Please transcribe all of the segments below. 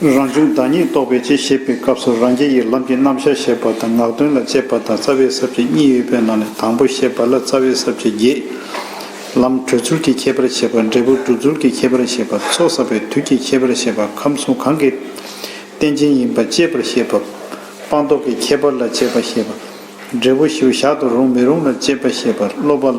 རང་བྱུང་བདག་ཉིད་རྟོགས་པའི་ཆེད་ཞེས་པའི་སྐབས་སུ་རང་རྒྱལ་ཡིད་ལམ་གྱི་རྣམ་གཞག་ཞེས་པ་དང་ངག་དོན་ལ་དཔྱད་པ་དང་རྩ་བའི་གཟབ་བྱེད་གཉིས་ཡོད་པའི་ནང་ནས་དང་པོ་ཞེས་པ་ལ་རྩ་བའི་གཟབ་བྱེད་བརྒྱད། ལམ་གྲོལ་ཚུལ་གྱི་ཁྱད་པར་ཞེས་པ་འབྲས་བུ་སྒྲུབ་ཚུལ་གྱི་ཁྱད་པར་ཞེས་པ་ཚོགས་བསགས་པའི་དུས་ཀྱི་ཁྱད་པར་ཞེས་པ་ཁམས་གསུམ་གང་གི་རྟེན་ཅན་ཡིན་པ་དཔྱད་པར་བཤད་པ། སྤངས་རྟོགས་ཀྱི་ཁྱད་པར་ལ་དཔྱད་པ་ཞེས་པ། འབྲས་བུ་བཞིའུ་ཞག་ཏུ་རུང་མི་རུང་ལ་དཔྱད་པ་ཞེས་པ་སློབ་པ།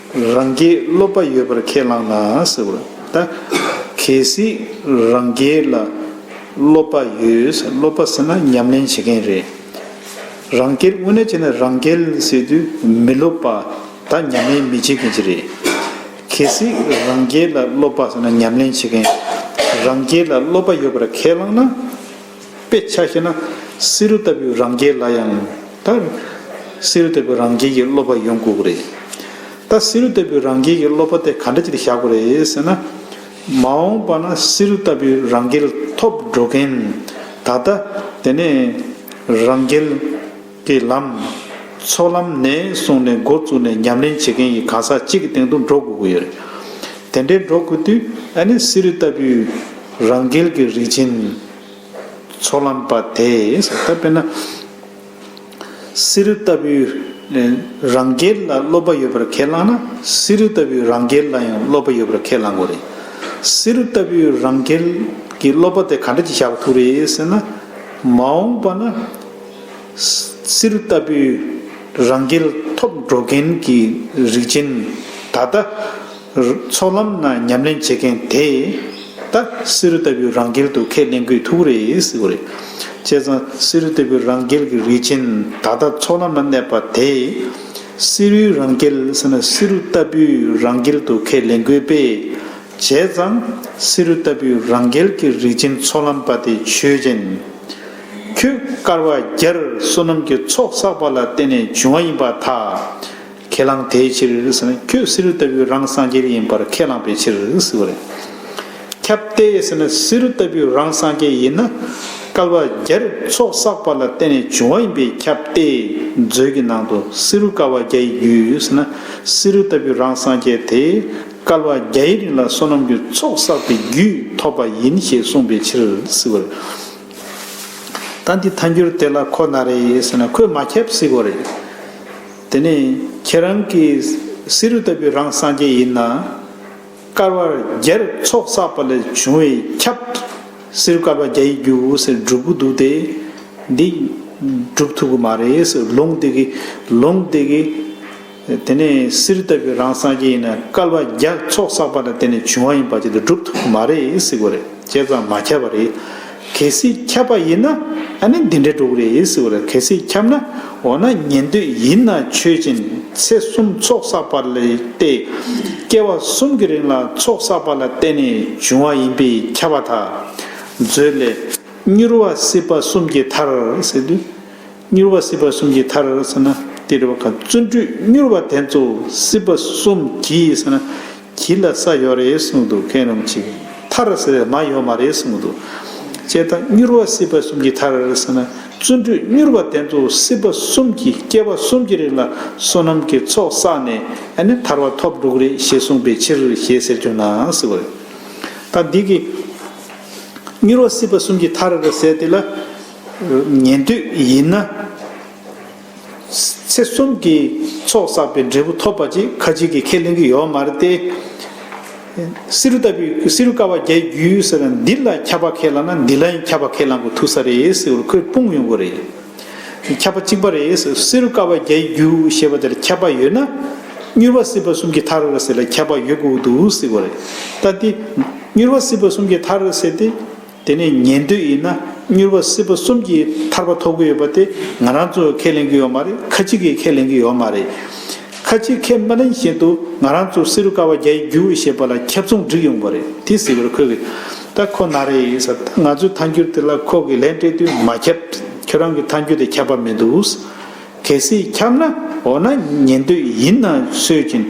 རང་རྒྱལ་སློབ་པ་ཡོད་པར་ཁས་བླངས་ན་ཟེར་བ་ལྟ། གལ་སྲིད་རང་རྒྱལ་ལ་སློབ་པ་ཡོད་ཟེར་སློབ་པ་ཟེར་ན་ཉམས་ལེན་བྱེད་མཁན་རེད། རང་རྒྱལ་དབུ་ནས་བྱས་ན་རང་རྒྱལ་ཟེར་དུས་མི་སློབ་པ་ད་ཉམས་ལེན་མི་བྱེད་མཁན་ཅིག་རེད། གལ་སྲིད་རང་རྒྱལ་ལ་སློབ་པ་ཟེར་ན་ཉམས་ལེན་བྱེད་མཁན་རང་རྒྱལ་ལ་སློབ་པ་ཡོད་པར་ཁས་བླངས་ན། དཔེ་ཆ་ཤེས་ན། བསེ་རུ་ལྟ་བུའི་རང་རྒྱལ་ལ་ཡང་ད། བསེ་རུ་ལྟ་བུའི་རང་རྒྱལ་གྱི་སློབ་པ་ཡོང་དགོས་ཀྱི་རེད། ད་བསེ་རུ་ལྟ་བུའི་རང་རྒྱལ་གྱི་སློབ་པ་དེ་ག་འདྲ་ཅིག་ཏུ་བཞག་དགོས་རེད་ཟེར་ན། མ་འོངས་པ་ན་བསེ་རུ་ལྟ་བུའི་རང་རྒྱལ་ཐོབ་འགྲོ་མཁན་ད་ལྟ་དེ་ནས་རང་རྒྱལ། དེ་ལམ། ཚོགས་ལམ་ནས་གསུངས་ནས་འགོ་བཙུགས་ནས་ཉམས་ལེན་བྱེད་མཁན་ཡི་ག་ས་གཅིག་གི་སྟེང་དུ་འགྲོ་དགོས་ཀྱི་ཡོད་རེད། དེ་འདྲའི་འགྲོ་དགོས་དུས་ཨ་ནེ་སི་རི་ལྟ་བུའི་རང་རྒྱལ་གྱི་རིག་ཆེན་ཚོགས་ལམ་པ་དེས་ད་དཔེར་ན། སི་རི་ལྟ་བུའི་རང་རྒྱལ་ལ་སློབ་པ་ཡོད་པར་ཁས་བླངས་ན་སི་རི་ལྟ་བུའི་རང་རྒྱལ་ལ་ཡང་སློབ་པ་ཡོད་པར་ཁས་བླངས་དགོས་རེད། སི་རི་ལྟ་བུའི་རང་རྒྱལ་གྱི་སློབ་པ་དེ་ག་འདྲ་ཅིག་བཞག་པ་ཐུག་རེད་ཟེར་ན། མ་འོངས་པ་ན། སིལ་ལྟ་བུའི་རང་སྐལ་ཐོབ་འགྲོ་མཁན་གྱི་རིགས་ཅན། ད་ལྟ་ཚོགས་ལམ་ན་ཉམས་ལེན་བྱེད་མཁན་དེ་ད་སིལ་ལྟ་བུའི་རང་སྐལ་དུ་ཁས་ལེན་དགོས་ཐུག་རེད་ཟེར་བ་རེད། བྱས་ཙང་སིལ་ལྟ་བུའི་རང་སྐལ་གྱི་རིགས་ཅན་ད་ལྟ་ཚོགས་ལམ་ན་གནས་པ་དེ། སིལ་རུལ་རང་སྐལ་ཟེར་ན་སིལ་ལྟ་བུའི་རང་སྐལ་དུ་ཁས་ལེན་དགོས་པས། བྱས་ཙང་བསེ་རུ་ལྟ་བུའི་རང་རྒྱལ་གྱི་རིག་ཅིང་ཚོགས་ལམ་པ་དེ་ཆོས་ཅན། ཁྱོད་དཀར་བ་རྒྱར་བསོད་ནམས་ཀྱི་ཚོགས་བསགས་པ་ལ་བརྟེན་ནས་བྱུང་བ་ཡིན་པ་དག་ཁས་བླངས་དེའི་ཕྱིར་ཁྱོད་བསེ་རུ་ལྟ་བུའི་རང་སངས་རྒྱས་ཡིན་པར་ཁས་བླངས་པའི་ཕྱིར་ཟེར་བ་རེད། ཁྱབ་བརྡལ་བསེ་རུ་ལྟ་བུའི་རང་སངས་རྒྱས་ཡིན་ན་དཀར་བ་རྒྱར་ཚོགས་བསགས་པ་ལ་བརྟེན་ནས་བྱུང་བ་ཡིན་པའི་ཁྱབ་བརྡལ་མཛོད་ཀྱི་ནང་དུ་བསེ་རུ་དཀར་བ་རྒྱ་ཡི་རྒྱུད་ཡོད་ཟེར་ན་བསེ་རུ་ལྟ་བུའི་རང་སངས་རྒྱས་དེ་བསྐལ་བ་བརྒྱའི་རིང་ལ་བསོད་ནམས་ཀྱི་ཚོགས་བསགས་པའི་རྒྱུས་ཐོབ་པ་ཡིན་ཞེས་གསུངས་པའི་ཕྱིར། སི་བོ་རེད། ད་འདི་ཐ་འགྱུར་དེ་ལ་ཁོ་ན་རེ་ཟེར་ན་ཁོས་མ་ཁྱབ་སི་བོ་རེད། དེ་ནས་ཁྱེད་རང་གི་སི་རུ་ལྟ་བུའི་རང་སངས་རྒྱས་ཡིན་ན། བསྐལ་བ་བརྒྱར་ཚོགས་བསགས་པ་ལས་བྱུང་བའི་ཁྱབ། སི་རུ་བསྐལ་བ་བརྒྱ་ཡི་རྒྱུ་ཟེར་སྒྲུབ་གི་འདུག་སྟེ། འདི་སྒྲུབ་ཐུབ་གི་མ་རེད། ལུང་དེ་གི་ལུང་དེ་གི། དེ་ནས་སིར་བཏབ་པའི་རང་སངས་རྒྱས་ཡིན་ན་བསྐལ་པ་བརྒྱར་ཚོགས་བསགས་པ་ལ་བརྟེན་ནས་བྱུང་བ་ཡིན་པ་བྱེད་དུ་བསྒྲུབ་ཐུབ་ཀྱི་མ་རེད་ཟེར་གོ་རེད་ཁྱེད་ཚང་མ་ཁྱབ་པ་རེད། གལ་སྲིད་ཁྱབ་པ་ཡིན་ན་ཨ་ནི་འདི་འདྲའི་འགྲོ་གི་རེད་ཟེར་གོ་རེད་གལ་སྲིད་ཁྱབ་ན་འོ་ན་ཉན་འདོད་ཡིན་ན་ཆོས་ཅན་ཚེ་གསུམ་ཚོགས་བསགས་པ་ལས་ཏེ། བསྐལ་བ་གསུམ་གྱི་རིང་ལ་ཚོགས་བསགས་པ་ལ་བརྟེན་ནས་བྱུང་བ་ཡིན་པས་ཁྱབ་པ་དག། མཛོད་ལས། མྱུར་བ་སྲིད་པ་གསུམ་གྱི་མཐར། མྱུར་བ་སྲིད་པ་གསུམ་གྱི་མཐར་ཟེར་ན། དེ་རེ་བ་ཀ་བརྩོན་འགྲུས་མྱུར་བ་དེ་ཚོ་སྲིད་པ་གསུམ་གྱི་ཟེར་ན། གྱི་ལ་ས་ཡོད་རེད་གསུངས་འདུག་མཁན་རུང་ཆིག་མཐར་ཟེར་མ་ཡོད་མ་རེད་གསུངས་འདུག་དཔྱད་ད་མྱུར་བ་སྲིད་པ་གསུམ་གྱི་མཐར་ཟེར་ན། བརྩོན་འགྲུས་མྱུར་བ་དེ་ཚོ་སྲིད་པ་གསུམ་གྱི་སྐྱེ་བ་གསུམ་གྱི་རིང་ལ་བསོད་ནམས་ཀྱི་ཚོགས་བསགས་ནས་ཨ་ནི་ཐར་བ་ཐོབ་འགྲུག་རེད་ཞེས་གསུངས་པའི་ཕྱིར་ཞེས་ཟེར་གྱུར་ན་སྲིད་པ་རེད། ད་འདི་གི། མྱུར་བ་སྲིད་པ་གསུམ་གྱི་མཐར་ཟེར་དེ་ལ། ཉན་ཐོས་ཡིན་ན། ཚེ་གསུམ་གྱི་ཚོགས་བསགས་པའི་འབྲས་བུ་ཐོབ་པ་ཅིག་ཁ་ཅིག་གིས་ཁས་ལེན་གྱི་ཡོད་མ་རེད་དེ། བསེ་རུ་ལྟ་བུས་བསེ་རུ་ཀ་བ་བརྒྱད་བརྒྱུད་ཟེར་ན་འདི་ལ་ཁྱབ་པ་ཁས་བླངས་ན་འདི་ལ་ཡང་ཁྱབ་པ་ཁས་བླངས་དགོས་ཐུག་ས་རེད་ཟེར་བར་ཁོས་སྤུངས་ཡོང་གི་རེད། ཁྱབ་པ་གཅིག་པ་རེད་ཟེར་བསེ་རུ་ཀ་བ་བརྒྱད་བརྒྱུད་ཞེས་པ་དེར་ཁྱབ་པ་ཡོད་ན། མྱུར་བ་སྲིད་པ་གསུམ་གྱི་མཐར་ཟེར་ལ་ཁྱབ་པ་ཡོད་དགོས་འདུག་ཟེར་གི་རེད། ད་དེ། མྱུར་བ་སྲིད་པ་གསུམ་གྱི་མཐར་ཟེར་ཏེ། དེ་ནས་ཉན་འདོད་ཡིན་ན་མྱུར་བ་སྲིད་པ་གསུམ་གྱི་ཐར་པ་ཐོབ་གི་ཡོད་པ་དེ་ང་རང་ཚོ་ཁས་ལེན་གི་ཡོད་མ་རེད་ཁ་ཅིག་གིས་ཁས་ལེན་གི་ཡོད་མ་རེད། ཁ་ཅིག་ཁས་མ་ལེན་བཞིན་དུ་ང་རང་ཚོ་བསེ་རུ་ཀ་བ་བརྒྱ་ཡི་རྒྱུ་ཞེས་པ་ལ་ཁྱབ་ཚོང་བསྒྲིགས་ཡོང་པ་རེད་དེ་ཟེར་བར་ཁོས་ད་ཁོ་ན་རེ་ཡིན་ཟེར་ད་ང་ཚོའི་ཐཱན་འགྱུར་དེ་ལ་ཁོ་གིས་ལན་སྤྲད་དུས་མ་ཁྱབ། ཁྱོད་རང་གི་ཐཱན་འགྱུར་དེ་ཁྱབ་པ་མི་འདུག། གལ་སྲིད་འཁྱམས་ན་འོ་ན་ཉན་འདོད་ཡིན་ན་སོད་ཅིང།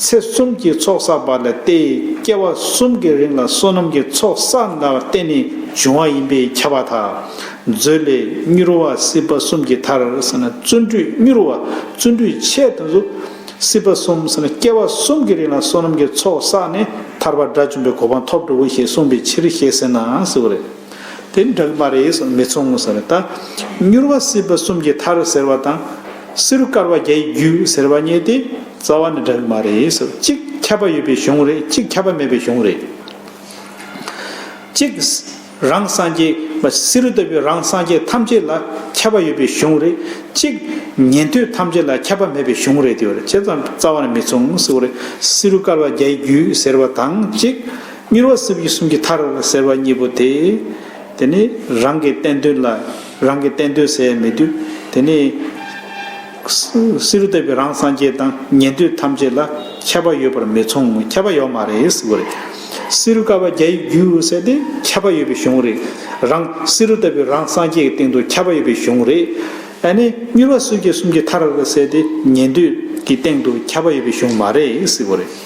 ཚེ་གསུམ་གྱི་ཚོགས་བསགས་པ་ལ་སྟེ་སྐྱེ་བ་གསུམ་གྱི་རིང་ལ་བསོད་ནམས་ཀྱི་ཚོགས་བསགས་ལ་བརྟེན་ནས་བྱུང་བ་ཡིན་པས་ཁྱབ་པ་དང། མཛོད་ལས་མྱུར་བ་སྲིད་པ་གསུམ་གྱི་མཐར་བསོད་ནམས་མྱུར་བ་བརྩོན་འགྲུས་ཆེ་དང་གཟུགས་སྲིད་པ་གསུམ་སྐྱེ་བ་གསུམ་གྱི་རིང་ལ་བསོད་ནམས་ཀྱི་ཚོགས་བསགས་ནས་ཐར་པ་དགྲ་བཅོམ་པའི་གོ་འཕང་ཐོབ་འགྲོའོ་ཞེས་གསུངས་པའི་ཕྱིར་ཞེས་ཟེར་ནའང་ཟེར་བ་རེད། དེ་འགྲིག་མ་རེད་ཟེར་མི་ཚུགས་ངོ་ཟེར་རེད་ད། མྱུར་བ་སྲིད་པ་གསུམ་གྱི་མཐར་ཟེར་བ་དང། བསེ་རུ་དཀར་བ་བརྒྱད་ཡི་རྒྱུད་ཟེར་བ་གཉིས་དེ་རྩ་བ་ནས་འགྲིག་མ་རེད་ཟེར་གཅིག་ཁྱབ་པ་ཡོད་པའི་གཞུང་རེད་གཅིག་ཁྱབ་པ་མེད་པའི་གཞུང་རེད། གཅིག། རང་སངས་རྒྱས་བསེ་རུ་ལྟ་བུའི་རང་སངས་རྒྱས་ཐམས་ཅད་ལ་ཁྱབ་པ་ཡོད་པའི་གཞུང་རེད་གཅིག། ཉན་ཐོས་ཐམས་ཅད་ལ་ཁྱབ་པ་མེད་པའི་གཞུང་རེད་དེ་བར་ཇི་ཙམ་རྩ་བ་ནས་མི་ཚུགས་ཟེར་བ་རེད་བསེ་རུ་དཀར་བ་བརྒྱད་ཡི་རྒྱུད་ཟེར་བ་དང་གཅིག། གཉེར་བ་སྲིབ་ཡིག་གསུམ་གྱི་མཐར་ཟེར་བ་གཉིས་པོ་དེ། དེ་ནི་རང་གི་བསྟན་དོན་ལ་རང་གིས་བསྟན་དོན་ཟད་མི་དུས་དེ་ནི། སི་རུ་ལྟ་བུའི་རང་སངས་རྒྱས་དང་ཉན་ཐོས་ཐམས་ཅད་ལ་ཁྱད་པ་ཡོད་པར་མི་མཚུངས་ཁྱད་པ་ཡོད་མ་རེད་ཟེར་བ་རེད། སི་རུ་ཀ་བ་བརྒྱ་ཡི་རྒྱུ་ཟེར་ཏེ་ཁྱད་པ་ཡོད་པའི་གཞུང་རེད། རང་སི་རུ་ལྟ་བུའི་རང་སངས་རྒྱས་ཀྱི་སྟེང་དུ་ཁྱད་པ་ཡོད་པའི་གཞུང་རེད། ཨ་ནི་གཉེར་བ་སྲིབ་ཡིག་གསུམ་གྱི་མཐར་ཟེར་ཏེ་ཉན་ཐོས་ཀྱི་སྟེང་དུ་ཁྱད་པ་ཡོད་པའི་གཞུང་མ་རེད་ཟེར་བ་རེད།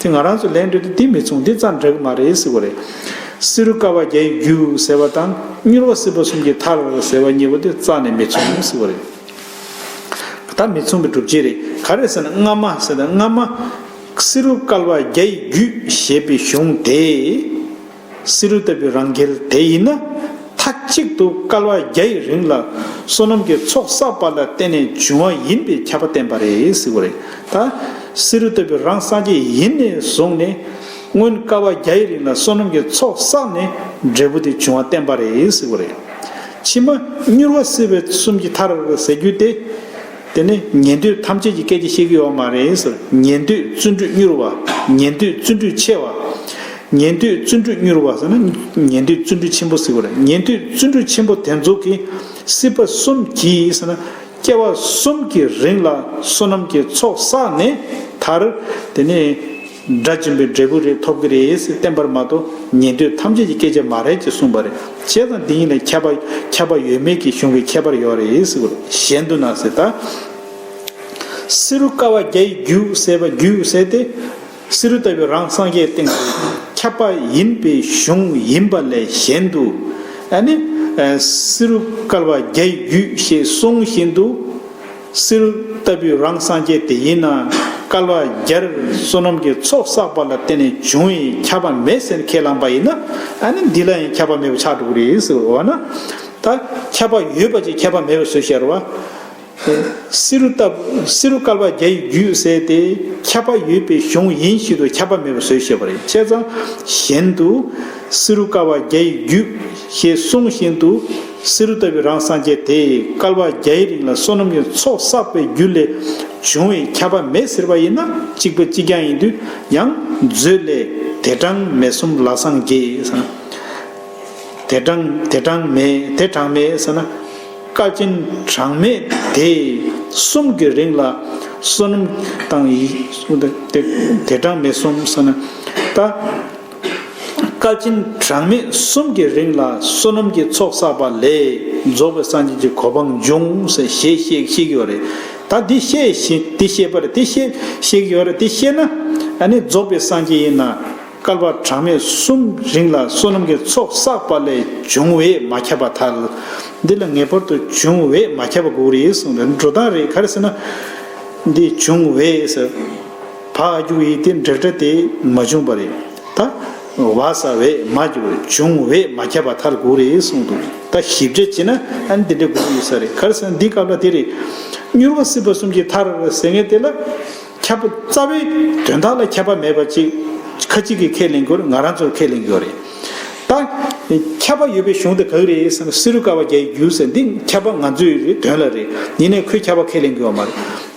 དེ་ང་རང་ཚོ་ལན་སྤྲོད་དུ་འདི་མི་མཚུངས་འདི་ཙམ་འདྲ་གི་མ་རེད་སྲིད་གོ་རེད། བསེ་རུ་ཀ་བ་བརྒྱ་ཡི་རྒྱུ་ཟེར་བ་དང་མྱུར་བ་སྲིད་པ་གསུམ་གྱི་ཐར་ཟེར་བ་གཉིས་པོ་དེ་རྩ་ནས་མི་མཚུངས་སྲིད་གོ་རེད། ད་མི་མཚུངས་པའི་སྒྲུབ་བྱེད་རེད་ག་རེད་ཟེར་ན་སྔ་མ་ཟེར་ན་སྔ་མ། བསེ་རུ་ཀ་བ་བརྒྱ་ཡི་རྒྱུ་ཞེས་པའི་གཞུང་དེ། བསེ་རུ་ལྟ་བུའི་རང་འགེལ་དེ་ཡིན་ན། མཐའ་གཅིག་ཏུ་སྐལ་བ་བརྒྱ་ཡི་རིང་ལ་བསོད་ནམས་ཀྱི་ཚོགས་བསགས་པ་ལ་བརྟེན་ནས་བྱུང་བ་ཡིན་པའི་ཁྱབ་པ་བསྟན་པ་རེད་ཟེར་བ་རེད་ད། བསེ་རུ་ལྟ་བུའི་རང་སངས་རྒྱས་ཡིན་ནས་བཟུང་ནས། སྔོན་སྐལ་བ་བརྒྱ་ཡི་རིང་ལ་བསོད་ནམས་ཀྱི་ཚོགས་བསགས་ནས་འབྲས་བུ་དེ་བྱུང་བ་བསྟན་པ་རེད་ཟེར་བ་རེད། ཕྱི་མ་མྱུར་བ་བསིལ་བའི་གསུམ་གྱི་མཐར་ཟེར་རྒྱུ་དེ། དེ་ནི་ཉན་ཐོས་ཐམས་ཅད་ཀྱི་སྐད་ཅིག་ཤེས་ཀྱི་ཡོད་པ་མ་རེད། ཉན་ཐོས་བརྩོན་འགྲུས་མྱུར་བ། ཉན་ཐོས་བརྩོན་འགྲུས་ཆེ་བ། ཉན་ཐོས་བརྩོན་འགྲུས་མྱུར་བ་ཟེར་ན་ཉན་ཐོས་བརྩོན་འགྲུས་ཆེན་པོ་ཟེར་བ་རེད། ཉན་ཐོས་བརྩོན་འགྲུས་ཆེན་པོ་དེ་ཚོ་གི་སྲིད་པ་གསུམ་གྱིས་ཟེར་ན། སྐྱེ་བ་གསུམ་གྱི་རིང་ལ་བསོད་ནམས་ཀྱི་ཚོགས་བསགས་ནས་མཐར། དེ་ནི། སྒྲ་འབྱིན་པའི་འབྲས་བུ་རེ་ཐོབ་ཀྱི་རེད་ཡེ་སི་བསྟན་པར་མ་དོ་ཉན་ཐོས་ཐམས་ཅད་ཀྱི་སྐད་ཆ་མ་རེད་ཅེས་གསུངས་པ་རེད་བྱས་ཙང་འདི་གཉིས་ལ་ཁྱད་པ་ཁྱད་པ་ཡོད་མེད་ཀྱི་གཞུང་གི་ཁྱད་པར་ཡོད་རེད་ཡེ་སི་གཞན་དུ་ན་སི་ཏཱ་སི་རུ་ཀ་བ་རྒྱ་ཡི་རྒྱུད་བསལ་བ་རྒྱུད་བསལ་ཏེ་སི་རུ་ལྟ་བུའི་རང་སངས་རྒྱས་སྟེང་དུ་ཁྱབ་པ་ཡིན་པའི་གཞུང་ཡིན་པ་ལས་གཞན་དུ་ན་སི་རུ་ཀ་བ་རྒྱ་ཡི་རྒྱུད་ཞེས་གསུངས་བཞིན་དུ། སིལ། ལྟ་བུའི་རང་སངས་རྒྱས་དེ་ཡིན་ན། སྐལ་བ་བརྒྱར་བསོད་ནམས་ཀྱི་ཚོགས་བསགས་པ་ལ་བརྟེན་ནས་བྱུང་བའི་ཁྱབ་པ་མེད་ཟེར་ཁས་བླངས་པ་ཡིན་ན། ཨ་ནི་འདི་ལ་ཡང་ཁྱབ་པ་མེད་པའི་ཆགས་འགྲོ་གི་རེད་ཟེར་བ་ན། ད་ཁྱབ་པ་ཡོད་པ་ཅིག་ཁྱབ་པ་མེད་པ་བཟོས་ཤར་བ། སིལ། ལྟ་བུསིལ། སྐལ་བ་བརྒྱ་ཡི་རྒྱུད་ཟེར་ཏེ། ཁྱབ་པ་ཡོད་པའི་གཞུང་ཡིན་བཞིན་དུ་ཁྱབ་པ་མེད་པ་བཟོས་ཤེས་པ་རེད་ཁྱེད་ཚང་གཞན་དུ། སིལ། སྐལ་བ་བརྒྱ་ཡི་རྒྱུད། ཞེས་གསུངས་བཞིན་དུ། བསེ་རུ་ལྟ་བུའི་རང་སངས་རྒྱས་དེས་སྐལ་བ་བརྒྱའི་རིང་ལ་བསོད་ནམས་ཀྱི་ཚོགས་བསགས་པའི་རྒྱུ་ལས་བྱུང་བའི་ཁྱབ་པ་མེད་ཟེར་བ་ཡིན་ན་གཅིག་པ་གཅིག་རྐྱང་ཡིན་དུས་ཡང་མཛོད་ལས། དེ་གྲངས་མེད་གསུམ་ལ་སངས་རྒྱས། དེ་གྲངས་དེ་གྲངས་མེད་དེ་གྲངས་མེད་ཟེར་ན། བཀའ་སྤྱིན་གྲངས་མེད་དེ་གསུམ་གྱི་རིང་ལ་བསོད་ནམས་དང། དེ་གྲངས་མེད་གསུམ་ཟེར་ན། ད། བཀའ་སྤྱི་གྲངས་མེད་གསུམ་གྱི་རིང་ལ་བསོད་ནམས་ཀྱི་ཚོགས་བསགས་པ་ལས་རྫོགས་པའི་སངས་རྒྱས་ཀྱི་གོ་འཕང་འབྱུང་ཞེས་བཤད་ཀྱི་ཡོད་རེད། ད་འདི་བཤད་པར་དེ་བཤད་ཀྱི་ཡོད་རེད་དེ་བཤད་ན་ནི་རྫོགས་པའི་སངས་རྒྱས་ཡིན་ན་བསྐལ་པ་གྲངས་མེད་གསུམ་རིང་ལ་བསོད་ནམས་ཀྱི་ཚོགས་བསགས་པ་ལས་འབྱུང་བས་མ་ཁྱབ་པ་ཐལ། འདི་ལ་ངེས་པར་དུ་འབྱུང་བས་མ་ཁྱབ་པ་དགོས་རེད་གསུངས་རེད་འགྲོ་སྟངས་རེད་ག་རེ་ཟེར་ན། འདི་འབྱུང་བས། བ་ཨ་གྱུ་ཡིས་དེ་འགྲིག་འདྲ་དེ་མ་བྱུང་བ་རེད་ད། བ་ས་བས་མ་གྱུར་བྱུང་བས་མ་ཁྱབ་པ་ཐར་གུག་རེད་གསུངས་འདུག་ད་ཞིབ་དཔྱད་བྱས་ན་ཨ་འདི་འདྲའི་གུག་ཡོད་ས་རེད་གར་སོང་འདི་སྐབས་ལ་དེ་རེད། མྱུར་བ་སྲིད་པ་གསུམ་གྱི་ཐར་ཟེར་ངེས་དེ་ལ་ཁྱབ། རྩ་བའི་དོན་དག་ལ་ཁྱབ་པ་མེད་པ་ཅིག་ཁ་ཅིག་གིས་ཁས་ལེན་དགོས་ང་རང་ཚོར་ཁས་ལེན་དགོས་རེད་ད། ཁྱབ་པ་ཡོད་པའི་གཞུང་དེ་གག་རེད་བསམ་ན་སི་རུ་ཀ་བ་བརྒྱ་ཡི་རྒྱུ་ཟེར་འདི་ཁྱབ་པ་ང་ཚོའི་རེད་དོན་ལ་རེད་ཡིན་ནས་ཁོས་ཁྱབ་པ་ཁས་ལེན་དགོས་བ་མ་རེད།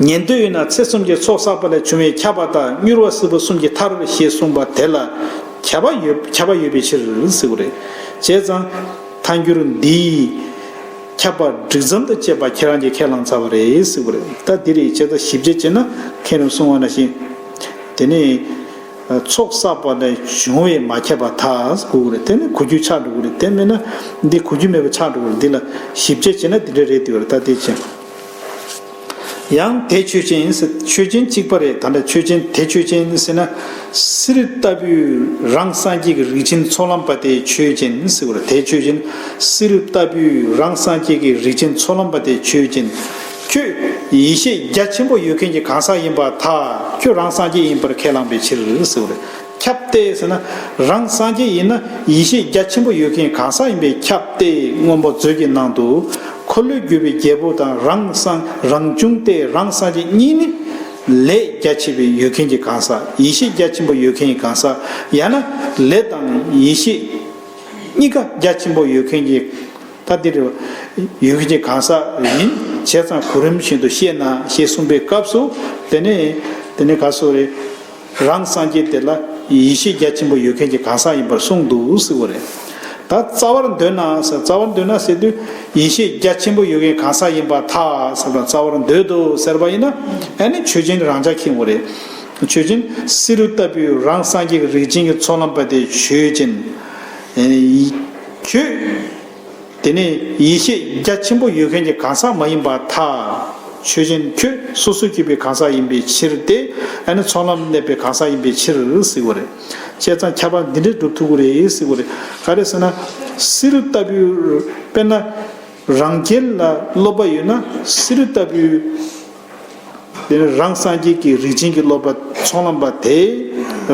ཉན་ཐོས་ཡོད་ན་ཚེ་གསུམ་གྱི་ཚོགས་བསགས་པ་ལས་བྱུང་བའི་ཁྱབ་པ་དང་མྱུར་བ་སྲིད་པ་གསུམ་གྱི་མཐར་ཞེས་གསུངས་པ་དེ་ལ་ཁྱབ་པ་ཡོད་པའི་ཕྱིར་ཟེར་བ་རེད། བྱས་ཙང། ཐལ་འགྱུར་འདིའི། ཁྱབ་པ་སྒྲིག་མཚམས་དང་བཅས་པ་ཁྱེད་རང་གིས་ཁས་བླངས་ཚར་བ་རེད་ཟེར་བ་རེད། ད་འདིར་ཡིད་ཆེས་དང་ཞིབ་དཔྱད་བྱས་ན་མཁྱེན་རུང་གསུངས་བ་ན་བཞིན། དེ་ནི། ཚོགས་བསགས་པ་ལས་བྱུང་བའི་མ་ཁྱབ་པ་དག་གོ་གི་རེད་དེ་ནི་གོ་རྒྱུ་ཆགས་འགྲོ་གི་རེད་དེ་མེད་ན། འདི་གོ་རྒྱུ་མེད་པ་ཆགས་འགྲོ་གི་རེད་འདི་ལ་ཞིབ་དཔྱད་བྱས་ན་འདི་འདྲ་རེད་ཟེར་བ་རེད་ད་དེ་བྱས། ཡང་དེ་ཆོས་ཅན་ཡིན་སྲིད་ཆོས་ཅན་གཅིག་པ་རེད་ད་འདྲ་ཆོས་ཅན་དེ་ཆོས་ཅན་ཡིན་སྲིད་ན། སི་རི་ལྟ་བུའི་རང་སངས་རྒྱས་ཀྱི་རིགས་ཅན་ཚོགས་ལམ་པ་དེ་ཆོས་ཅན་ཡིན་སྲིད་བར་དེ་ཆོས་ཅན། སི་རི་ལྟ་བུའི་རང་སངས་རྒྱས་ཀྱི་རིགས་ཅན་ཚོགས་ལམ་པ་དེ་ཆོས་ཅན། ཁྱོད་ཡེ་ཤེས་རྒྱ་ཆེན་པོ་ཡོད་མཁན་གྱི་གང་ཟག་ཡིན་པ་ཐག་ཁྱོད་རང་སངས་རྒྱས་ཡིན་པར་ཁས་བླངས་པའི་ཕྱིར་སི་བར། ཁྱབ་སྟེ་ཟེར་ན། རང་སངས་རྒྱས་ཡིན་ན་ཡེ་ཤེས་རྒྱ་ཆེན་པོ་ཡོད་མཁན་གང་ཟག་ཡིན་པས་ཁྱབ་སྟེ་སྔོན་པོ་མཛོད་ཀྱི་ནང་དུ། འཁོར་ལོས་སྒྱུར་བའི་རྒྱལ་པོ་དང་རང་སངས་རང་བྱུང་སྟེ་རང་སངས་རྒྱས་གཉིས་ནི། ལས་རྒྱ་ཆེ་བའི་ཡོད་མཁན་གྱི་གང་ཟག་ཡེ་ཤེས་རྒྱ་ཆེན་པོ་ཡོད་མཁན་གྱི་གང་ཟག་ཡང་ན། ལས་དང་ཡེ་ཤེས། གཉིས་ཀ་རྒྱ་ཆེན་པོ་ཡོད་མཁན་གྱི། ད་འདིར། ཡོད་མཁན་གྱི་གང་ཟག་ཡིན། བྱས་ཙང་གོ་རིམ་བཞིན་དུ་བཤད་ན་ཞེས་གསུངས་པའི་སྐབས་སུ། དེ་ནས། དེ་ནས་ག་སོགས་རེད། རང་སངས་རྒྱས་དེ་ལ་ཡེ་ཤེས་རྒྱ་ཆེན་པོ་ཡོད་མཁན་གྱི་གང་ཟག་ཡིན་པར་གསུངས་འདུག་ཟེར་བ་རེད། ད་རྩ་བར་འདོད་ན་ཟེར་རྩ་བར་འདོད་ན་ཟེར་དུས་ཡེ་ཤེས་རྒྱ་ཆེན་པོ་ཡོད་མཁན་གང་ཟག་ཡིན་པ་ཐ་ཟེར་བ་རྩ་བར་འདོད་དོ་ཟེར་བ་ཡིན་ན་ཨེ་ནི་ཆོས་ཅན་རང་ཅག་ཁེངས་བ་རེད། ཆོས་ཅན་བསེ་རུ་ལྟ་བུའི་རང་སངས་རྒྱས་ཀྱི་རིགས་ཅན་གྱི་ཚོགས་ལམ་པ་དེ་ཆོས་ཅན། ཁྱོད། དེ་ནས་ཡེ་ཤེས་རྒྱ་ཆེན་པོ་ཡོད་མཁན་གྱི་གང་ཟག་མ་ཡིན་པ་ཐ། ཆོས་ཅན་ཁྱོད་སོ་སོ་སྐྱེས་པའི་གང་ཟག་ཡིན་པའི་ཕྱིར་ཏེ། ཨ་ནི་ཚོགས་ལམ་གནས་པའི་གང་ཟག་ཡིན་པའི་ཕྱིར་ཟིག་གོ་རེ། བཅས་ཙང་ཁྱད་པར་འདི་འདྲས་སྒྲུབ་ཐུག་གོ་རེ་ཟིག་གོ་རེ། ག་རེ་ཟེར་ན། སི་རུ་ལྟ་བུའི། དཔེར་ན། རང་རྒྱལ་ལ་སློབ་པ་ཡོད་ན་སི་རུ་ལྟ་བུའི། དེ་རང་སངས་རྒྱས་ཀྱི་རིགས་ཅན་གྱི་སློབ་པ་ཚོགས་ལམ་པ་དེས་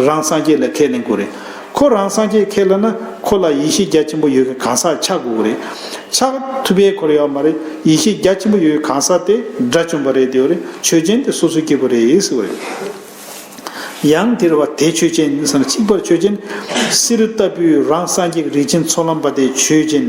རང་སངས་རྒྱས་ལ་ཁས་ལེན་དགོས་རེད། ཁོ་རང་སངས་རྒྱས་ཁས་ལེན་ན་ཁོ་ལ་ཡེ་ཤེས་རྒྱ་ཆེན་པོ་ཡོད་མཁན་གང་ཟག་ཆགས་དགོས་ཀྱི་རེད། ཆགས་ཐུབ་པའི་ཁོར་ཡོག་མ་རེད་ཡེ་ཤེས་རྒྱ་ཆེན་པོ་ཡོད་མཁན་གང་ཟག་དེ་དགྲ་བཅོམ་པ་རེད་དེའོ་རེད་ཆོས་ཅན་དེ་སོ་སོའི་སྐྱེ་བོ་རེད་ཟེར་བ་རེད། ཡང་དེར་བ་དེ་ཆོས་ཅན་ཟེར་ན་གཅིག་པར་ཆོས་ཅན། སི་རུ་ལྟ་བུའི་རང་སངས་རྒྱས་ཀྱི་རིགས་ཅན་ཚོགས་ལམ་པ་དེ་ཆོས་ཅན།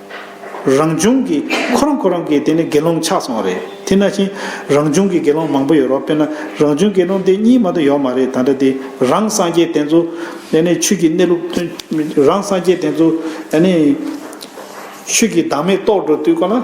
རང་བྱུང་གི་ཁོ་རང་ཁོ་རང་གི་དེ་ནི་དགེ་སློང་ཆགས་སོང་བ་རེད་དེ་ན་བཞིན་རང་བྱུང་གི་དགེ་སློང་མང་པོ་ཡོད་རོགས་དཔེར་ན་རང་བྱུང་དགེ་སློང་དེ་གཉིས་མ་ཏོ་ཡོག་མ་རེད་ད་འདྲ་དེ་རང་སངས་རྒྱས་དེ་ཚོ་དེ་ནི་ཆོས་ཀྱི་གནས་ལུགས་དོན་རང་སངས་རྒྱས་དེ་ཚོ་དེ་ནི་ཆོས་ཀྱི་བདག་མེད་རྟོགས་འགྲོ་དུས་ཀོ་ན།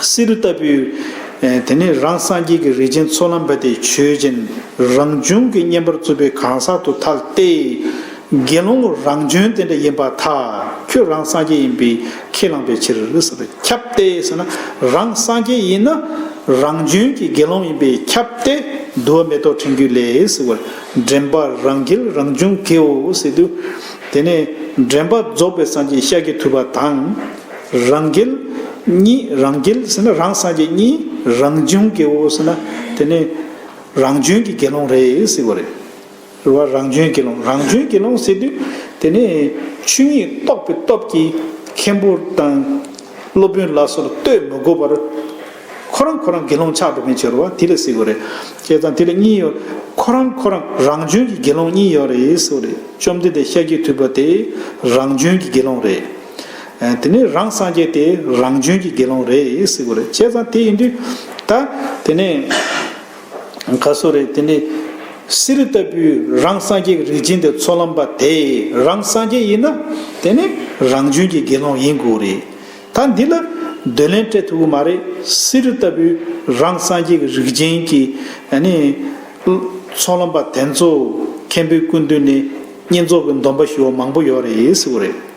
བསེ་རུ་ལྟ་བུའི། དེ་ནས་རང་སངས་རྒྱས་ཀྱི་རིགས་ཅན་ཚོགས་ལམ་པ་དེས་ཆོས་ཅན། རང་བྱུང་གི་བསྙེན་པར་རྩུབ་པའི་གང་ཟག་ཏུ་ཐལ་ཏེ། དགེ་སློང་མོ་རང་བྱོན་དེ་འདྲ་ཡིན་པ་ཐ། ཁྱོད་རང་སངས་རྒྱས་ཡིན་པས་ཁས་བླངས་པའི་ཕྱིར། ཁྱབ་སྟེ་ཟེར་ན། རང་སངས་རྒྱས་ཡིན་ན། རང་བྱོན་གྱི་དགེ་སློང་ཡིན་པས་ཁྱབ་སྟེ། བསྡུ་བ་མེ་ཏོག་ཕྲེང་རྒྱུད་ལས། འདྲེན་པ་རང་རྒྱལ་རང་བྱུང་དགེའོ། དེ་ནས་འདྲེན་པ་རྫོགས་པའི་སངས་རྒྱས་ཤཱཀྱ་ཐུབ་པ་དང། རང་རྒྱལ། གཉིས་རང་རྒྱལ་ཟེར་ན་རང་སངས་རྒྱས་གཉིས་རང་བྱུང་སྐྱེ་བོ་ཟེར་ན་དེ་ནི་རང་བྱོན་གྱི་དགེ་སློང་རེད་ཟེར་བ་རེད། རེ་བ་རང་བྱོན་དགེ་སློང་རང་བྱོན་དགེ་སློང་ཟེར་དུས་དེ་ནི་ཆོས་ཉིད་རྟོགས་པའི་སྟོབས་ཀྱིས་མཁན་པོ་དང་སློབ་དཔོན་ལ་སོགས་ལ་ལྟོས་མི་དགོས་པར་ཁོ་རང་ཁོ་རང་དགེ་སློང་ཆགས་འགྲོ་མཁན་བྱོས་རེ་བ་དེ་ལས་ཟེར་བ་རེད། བྱས་ཙང་དེ་ལ་གཉིས་ཡོད་ཁོ་རང་ཁོ་རང་རང་བྱོན་གྱི་དགེ་སློང་གཉིས་ཡོད་རེད་ཟེར་བ་རེད་བཅོམ་ལྡན་འདས་ཤཱཀྱའི་ཐུབ་པ་དེ་རང་བྱོན་གྱི་དགེ་སློང་རེད། དེ་ནས་རང་སངས་རྒྱས་དེ་རང་བྱོན་གྱི་དགེ་སློང་རེད་སྲིད་གོ་རེད་བྱས་ཙང་དེ་ཡིན་དུས། ད་དེ་ནས་ག་སོ་རེད་དེ་ནས། གསེར་རི་ལྟ་བུའི་རང་སངས་རྒྱས་ཀྱི་རིགས་ཅན་དེ་ཚོགས་ལམ་པ་དེ་རང་སངས་རྒྱས་ཡིན་ན། དེ་ནས་རང་བྱོན་གྱི་དགེ་སློང་ཡིན་དགོས་རེད། ད་འདི་ལ་འདོད་ལན་སྤྲད་ཐུབ་གི་མ་རེད་གསེར་རི་ལྟ་བུའི་རང་སངས་རྒྱས་ཀྱི་རིགས་ཅན་གྱི། ཚོགས་ལམ་པ་དེ་ཚོ་མཁན་པོའི་སྐུ་མདུན་ནས་བསྙེན་རྫོགས་ཀྱི་འདོམས་པ་ཞུ་བ་མང་པོ་ཡོད་རེད་སྲིད་གོ་རེད།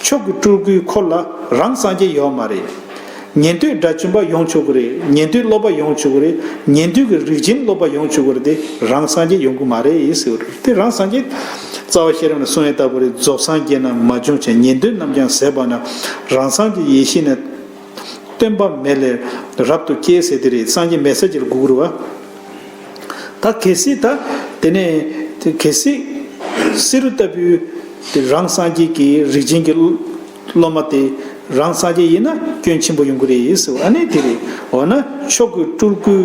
མཆོག་གི་སྤྲུལ་སྐུའི་འཁོར་ལ་རང་སངས་རྒྱས་ཡོད་མ་རེད། ཉན་ཐོས་དགྲ་བཅོམ་པ་ཡོང་ཆོག་གི་རེད་ཉན་ཐོས་སློབ་པ་ཡོང་ཆོག་གི་རེད་ཉན་ཐོས་ཀྱི་རིགས་ཅན་སློབ་པ་ཡོང་ཆོག་གི་རེད་དེ་རང་སངས་རྒྱས་ཡོང་གི་མ་རེད་ཟེར་བ་རེད་དེ་རང་སངས་རྒྱས། རྩ་བ་ཤེས་རབ་ནས་གསུངས་ཡོད་ལྟ་བུ་རེད་རྫོགས་སངས་རྒྱས་རྣམས་མ་བྱུང་ཕྱིར་ཉན་ཐོས་རྣམས་ཀྱང་ཟད་པ་ན་རང་སངས་རྒྱས་ཡེ་ཤེས་ནས། སྟོན་པ་མེད་ལས་རབ་ཏུ་སྐྱེའི་ཟེར་དེ་རེད་སངས་རྒྱས་མེད་ཟེར་གྱི་རེད་གུ་གུ་རུ་བ། ད་གལ་སྲིད་ད་དེ་ནས་དེ་གལ་སྲིད། བསེ་རུ་ལྟ་བུའི། དེ་རང་སངས་རྒྱས་ཀྱི་རིགས་ཅན་གྱི། སློབ་མ་དེ། རང་སངས་རྒྱས་ཡིན་ན་སྐྱོན་ཆེན་པོ་ཡོང་གི་རེད་ཟེར་བ་ནི་དེ་རེད། འོ་ན་ཕྱོགས་ཀུན་སྤྲུལ་སྐུའི།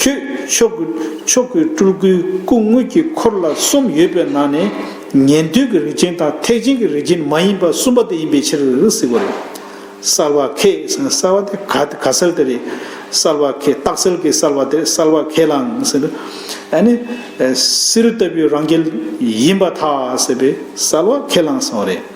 ཁྱོད་ཆོས་སྐུ་ཆོས་སྐུའི་སྤྲུལ་སྐུའི་སྐུ་དངོས་ཀྱི་འཁོར་ལ་གསུམ་ཡོད་པའི་ནང་ནས་ཉན་ཐོས་ཀྱི་རིགས་ཅན་དང་ཐེག་ཆེན་གྱི་རིགས་ཅན་མ་ཡིན་པ་གསུམ་པ་དེ་ཡིན་པའི་ཕྱིར་གཟིགས་པ་རེད། གསལ་བ་ཁས་གསལ་བ་དེ་ག་ག་སེལ་དེ་རེད། གསལ་བ་ཁས་རྟགས་སེལ་གྱི་གསལ་བ་དེ་གསལ་བ་ཁས་ལའང་ཟེར། ཨ་ནི། སིལ་ལྟ་བུའི་རང་རྒྱལ་ཡིན་པ་ཐག་ཟད་པས་གསལ་བ་ཁས་ལའང་ཟེར་བ་རེད།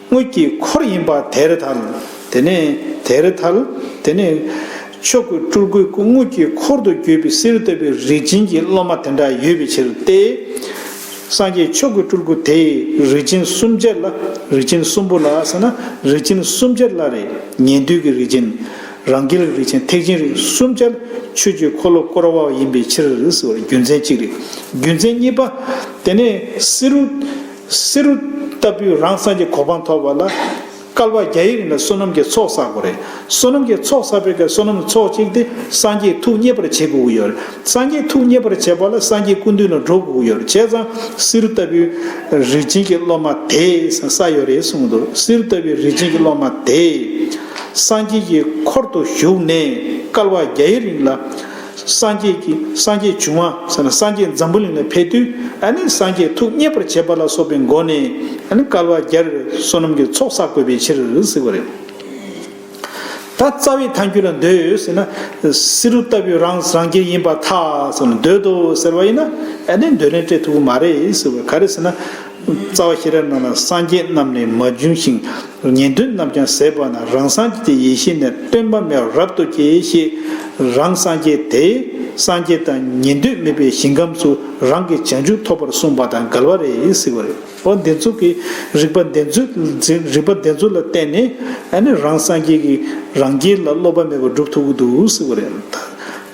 དངུལ་གྱི་འཁོར་ཡིན་པ་དེར་ཐལ། དེ་ནས་དེར་ཐལ། དེ་ནས། ཆོས་སྐུའི་སྤྲུལ་སྐུའི་སྐུ་དངུལ་གྱི་འཁོར་དུ་གྱུར་པའི་གསེར་བཏོད་པའི་རིགས་ཅན་གྱི་སློབ་མ་དེ་འདྲ་ཡོད་པའི་ཕྱིར་ཏེ། སངས་རྒྱས་ཆོས་སྐུའི་སྤྲུལ་སྐུ་དེས་རིགས་ཅན་གསུམ་བརྒྱད་ལ་རིགས་ཅན་གསུམ་པོ་ལ་ཟེར་ན་རིགས་ཅན་གསུམ་བརྒྱད་ལ་རེ། ཉན་ཐོས་ཀྱི་རིགས་ཅན། རང་རྒྱལ་གྱི་རིགས་ཅན་ཐེག་ཆེན་རིགས་གསུམ་བརྒྱད་ལ་ཆོས་ཀྱི་འཁོར་ལོ་བསྐོར་བ་ཡིན་པའི་ཕྱིར། རྒྱུ་མཚན་གཅིག་རེད། རྒྱུ་མཚན་གཉིས་པ། དེ་ནས་གསེར། བསེ་རུ་ལྟ་བུའི་རང་བསམ་གྱི་གོ་འཕང་ཐོབ་པ་ལ། སྐལ་བ་བརྒྱ་ཡི་རིང་ལ་བསོད་ནམས་ཀྱི་ཚོགས་བསགས་པ་རེད། བསོད་ནམས་ཀྱི་ཚོགས་བསགས་པའི་ཁར་བསོད་ནམས་ཚོགས་གཅིག་དེ་སངས་རྒྱས་ཐུགས་མཉེས་པར་བྱེད་དགོས་ཀྱི་ཡོད་རེད། སངས་རྒྱས་ཐུགས་མཉེས་པར་བྱེད་པ་ལ་སངས་རྒྱས་སྐུ་མདུན་ལ་འགྲོ་དགོས་ཀྱི་ཡོད་རེད་བྱས་ཙང། བསེ་རུ་ལྟ་བུའི་རིགས་ཅན་གྱི་སློབ་མ་དེས་ས་ཡོད་རེད་གསུངས་འདུག་བསེ་རུ་ལྟ་བུའི་རིགས་ཅན་གྱི་སློབ་མ་དེས། སངས་རྒྱས་ཀྱི་འཁོར་དུ་བཞུགས་ནས་སྐལ་བ་བརྒྱ་ཡི་རིང་ལ། སངས་རྒྱས་ཀྱི་སངས་རྒྱས་འབྱུང་བ་ས་ན་སངས་རྒྱས་འཛམ་བུ་གླིང་ལ་ཕེབས་དུས་ནི་སངས་རྒྱས་ཐུགས་མཉེས་པར་བྱེད་པ་ལ་སོགས་པའི་སྒོ་ནས་ནི་བསྐལ་བ་བརྒྱར་བསོད་ནམས་ཀྱི་ཚོགས་བསགས་དགོས་པའི་ཕྱིར་གཟིགས་པ་རེད། ད་རྩ་བའི་ཐང་རྒྱུད་ལ་འདོད་ཟེར་ན་བསེ་རུ་ལྟ་བུའི་རང་རང་རྒྱལ་ཡིན་པར་ཐག་ཟེར་ན་འདོད་དོ་ཟེར་བ་ཡིན་ན་ནི་འདོད་ལན་སྤྲད་ཐུབ་ཀྱི་མ་རེད་ཟེར་བ་ག་རེ་ཟེར་ན། རྩ་བ་ཤེས་རབ་རྣམས་ལ་སངས་རྒྱས་རྣམས་ནི་མ་བྱུང་ཞིང། ཉན་ཐོས་རྣམས་ཀྱང་ཟད་པ་ན་རང་སངས་རྒྱས་ཀྱི་ཡེ་ཤེས་ནི་སྟོན་པ་མེད་པར་རབ་ཏུ་སྐྱེ་ཞེས་རང་སངས་རྒྱས་དེས་སངས་རྒྱས་དང་ཉན་ཐོས་མེད་པའི་ཞིང་ཁམས་སུ་རང་གི་བྱང་ཆུབ་ཐོབ་པར་གསུངས་པ་དང་འགལ་བ་རེད་ཟེར་བ་རེད། འོ་འདི་ཚོ་གི་རིགས་པ་འདི་ཚོ་ལ་བརྟེན་ནས་ཨ་ནི་རང་སངས་རྒྱས་ཀྱི་རང་རྒྱལ་ལ་སློབ་པ་མེད་པར་སྒྲུབ་ཐུབ་ཀྱི་འདུག་ཟེར་བ་རེད།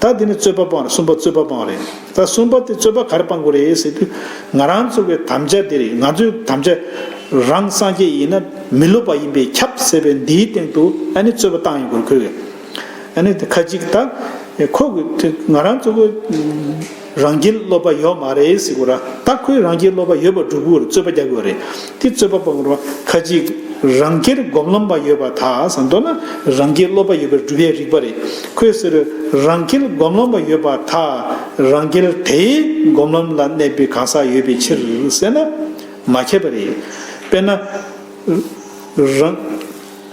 ད་འདི་ནི་རྩོད་པ་པང་རེད་གསུངས་པ་རྩོད་པ་པང་རེད། ད་གསུམ་པ་དེ་རྩོད་པ་གར་སྤང་དགོས་རེད་ཟེར་དུས། ང་རང་ཚོ་གི་དམ་བཅའ་དེ་རེད་ང་ཚོའི་དམ་བཅའ། རང་སངས་རྒྱས་ཡིན་ན་མི་སློབ་པ་ཡིན་པས་ཁྱབ་ཟེར་བའི་འདིའི་སྟེང་དུ་ཨ་ནི་རྩོད་པ་བཏང་ཡོད་དགོས་ཁོས། ཨ་ནི་ཁ་ཅིག་ད། ཁོ་གི་དེ་ང་རང་ཚོ་གི། རང་རྒྱལ་སློབ་པ་ཡོད་མ་རེད་ཟེར་དགོས་ར་ད་ཁོས་རང་རྒྱལ་སློབ་པ་ཡོད་པར་སྒྲུབ་དགོས་རེད་རྩོད་པ་རྒྱག་དགོས་རེད། དེ་རྩོད་པ་པོ་རོ་ཁ་ཅིག་རང་སྐྱེར་སྒོམ་ལམ་པ་ཡོད་པ་དག་ས་མདོ་ན་རང་སྐྱེ་སློབ་པ་ཡོད་པའི་སྒྲུབ་པའི་རིགས་པ་རེད་ཁོས་ཟེར། རང་སྐྱེར་སྒོམ་ལམ་པ་ཡོད་པ་དག་རང་སྐྱེར་དེའི་སྒོམ་ལམ་ལ་གནས་པའི་གང་ཟག་ཡོད་པའི་ཕྱིར་ཟེར་ན། མ་ཁྱབ་པ་རེད། དཔེར་ན། རང།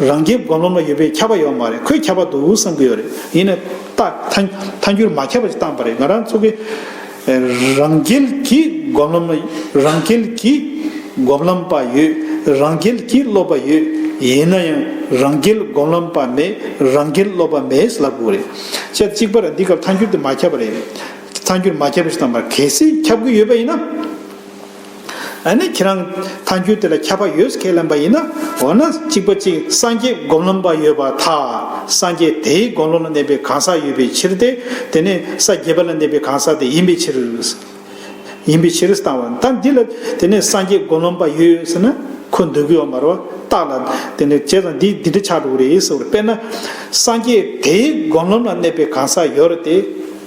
རང་རྒྱལ་མགོ་ལོམ་ལ་ཡོད་པའི་ཁྱབ་པ་ཡོད་མ་རེད་ཁོས་ཁྱབ་པ་འདུག་བསམ་གྱི་ཡོད་རེད་ཡིན་ནའི་ཐཱན་འགྱུར་མ་ཁྱབ་པ་ཞིག་བཏང་པ་རེད་ང་རང་ཚོ་གི་རང་རྒྱལ་གྱི་མགོ་ལོམ་ལ་རང་རྒྱལ་གྱི་མགོ་ལོམ་པ་ཡོད་རང་རྒྱལ་གྱི་སློབ་པ་ཡོད་ཡིན་ན་ཡང་རང་རྒྱལ་མགོ་ལོམ་པ་མེད་རང་རྒྱལ་སློབ་པ་མེད་ཟེར་ལབ་དགོས་རེད་ཆ་གཅིག་པར་འདི་སྐབས་ཐཱན་འགྱུར་དེ་མ་ཁྱབ་པ་རེད་ཐཱན་འགྱུར་མ་ཁྱབ་པ་ཞིག་བཏང་པ་རེད་གལ་སྲིད་ཁྱབ་གི་ཡོད་པ་ཡིན་ན། ཨ་ནི་ཁྱེད་རང་ད་རྒྱུད་དེ་ལ་ཁྱབ་པ་ཡོད་ཁས་ལེན་པ་ཡིན་ན་འོ་ན་གཅིག་པ་གཅིག་སངས་རྒྱས་སྒོམ་ལམ་པ་ཡོད་པ་དག་སངས་རྒྱས་དེའི་དགོངས་ཀློང་ལ་གནས་པའི་གང་ཟག་ཡོད་པའི་ཕྱིར་ཏེ་དེ་ནི་ས་བརྒྱད་པ་ལ་གནས་པའི་གང་ཟག་དེ་ཡིན་པའི་ཕྱིར། ཡིན་པའི་ཕྱིར་བཏང་བ་ད་འདི་ལ་དེ་ནི་སངས་རྒྱས་སྒོམ་ལམ་པ་ཡོད་ཟེར་ན་ཁོ་འདོད་རྒུའི་འོག་མར་བ་རྟགས་ལ་དེ་ནི་བྱས་ཙང་འདི་འདི་འདྲ་ཆགས་འགྲོ་གི་རེད་ཟེར་བ་དཔེར་ན་སངས་རྒྱས་དེའི་སྒོམ་ལམ་ལ་གནས་པའི་གང་ཟག་ཡོད་རེད་དེ།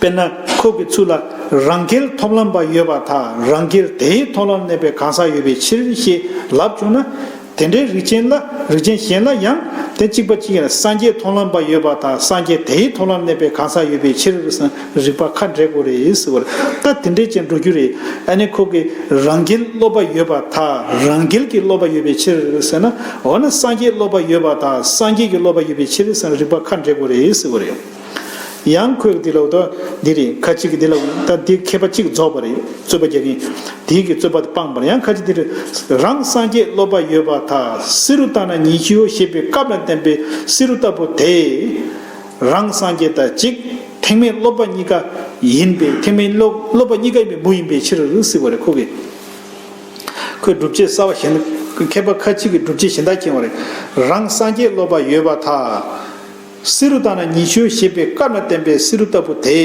དཔེར་ན་ཁོག་གི་ཚུལ་ལ་རང་སྐལ་ཐོབ་ལམ་པ་ཡོད་པ་དག་རང་སྐལ་དེའི་ཐོག་ལ་གནས་པའི་གང་ཟག་ཡོད་པའི་ཕྱིར་ཞེས་ལབ་བྱུང་ན། དེ་འདྲའི་རིགས་ཅན་གཞན་ལ་ཡང་དེ་གཅིག་པ་གཅིག་ཡིན་ལ་སངས་རྒྱས་ཐོབ་ལམ་པ་ཡོད་པ་དག་སངས་རྒྱས་དེའི་ཐོག་ལ་གནས་པའི་གང་ཟག་ཡོད་པའི་ཕྱིར་རིགས་པ་ཁ་འབྲས་དགུ་རེད་ཟེར་བར་ད་དེ་འདྲའི་ཅན་འགྲོ་རྒྱུ་རེད་ཨ་ནི་ཁོག་གི་རང་སྐལ་སློབ་པ་ཡོད་པ་དག་རང་སྐལ་གྱི་སློབ་པ་ཡོད་པའི་ཕྱིར་ཟེར་ན་འོ་ན་སངས་རྒྱས་སློབ་པ་ཡོད་པ་དག་སངས་རྒྱས་ཀྱི་སློབ་པ་ཡོད་པའི་ཕྱིར་རིགས་པ་ཁ་འབྲས་དགུ་རེད་ཟེར་བ་རེད། ཡང་ཁོས་འདི་ལ་ལྟོས་འདི་རེད་ཁ་ཅིག་འདི་ལ་ལྟོས་འདི་མཁས་པ་གཅིག་རྫོགས་པ་རེད་རྩོད་པ་རྒྱག་གིན་དེ་གི་རྩོད་པ་དེ་སྤངས་པར་ཡང་ཁ་ཅིག་འདི་རེད་རང་སངས་རྒྱས་སློབ་པ་ཡོད་པ་དག་བསེ་རུ་བཏང་ན་ཉི་ཤུའོ་ཞེས་པའི་སྐབས་ལ་བརྟེན་པའི་བསེ་རུ་ལྟ་བུ་དེ་རང་སངས་རྒྱས་དང་གཅིག་ཐེག་དམན་སློབ་པ་གཉིས་ཀ་ཡིན་པས་ཐེག་དམན་སློབ་པ་གཉིས་ཀ་ཡིན་པའི་མུ་ཡིན་པའི་ཕྱིར་བསེ་བ་རེད་ཁོ་གི་ཁོས་སྒྲུབ་བྱེད་གསར་བ་གཞན་མཁས་པ་ཁ་ཅིག་གི་སྒྲུབ་བྱེད་གཞན་དག་མཁྱེན་བ་རེད་རང་སངས་རྒྱས་སློབ་པ་ཡོད་པ་དག། བསེ་རུ་དང་ན་ཉི་ཆོས་ཞེས་པའི་བཀའ་ན་བསྟན་པའི་བསེ་རུ་ལྟ་བུ་དེ།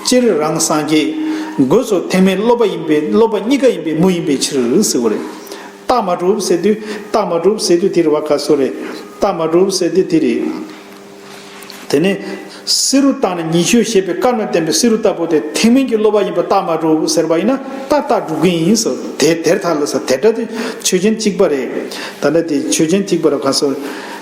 སྤྱིར་རང་སངས་རྒྱས། སྒོས་སུ་ཐེག་དམན་སློབ་པ་ཡིན་པས་སློབ་པ་གཉིས་ཀ་ཡིན་པའི་མུ་ཡིན་པའི་ཕྱིར་ཟེར་བ་རེད། རྟགས་མ་གྲུབ་ཟེར་དུས་རྟགས་མ་གྲུབ་ཟེར་དུས་དེ་རེད་བ་ག་སུ་རེད། རྟགས་མ་གྲུབ་ཟེར་དུས་དེ་རེད། དེ་ནས། བསེ་རུ་དང་ན་ཉི་ཆོས་ཞེས་པའི་བཀའ་ན་བསྟན་པའི་བསེ་རུ་ལྟ་བུ་དེ་ཐེག་དམན་གྱི་སློབ་པ་ཡིན་པ་རྟགས་མ་གྲུབ་ཟེར་བ་ཡིན་ན་རྟགས་རྟགས་གྲུབ་གི་ཡིན་ཟེར་བ་དེ་དེར་ཐལ་ལ། དེ་སྒྲ་དེ་ཆོས་ཅན་གཅིག་པ་རེད། ད་ལྟ་དེ་ཆོས་ཅན་གཅིག་པ་རེད་བ་ག་སུ།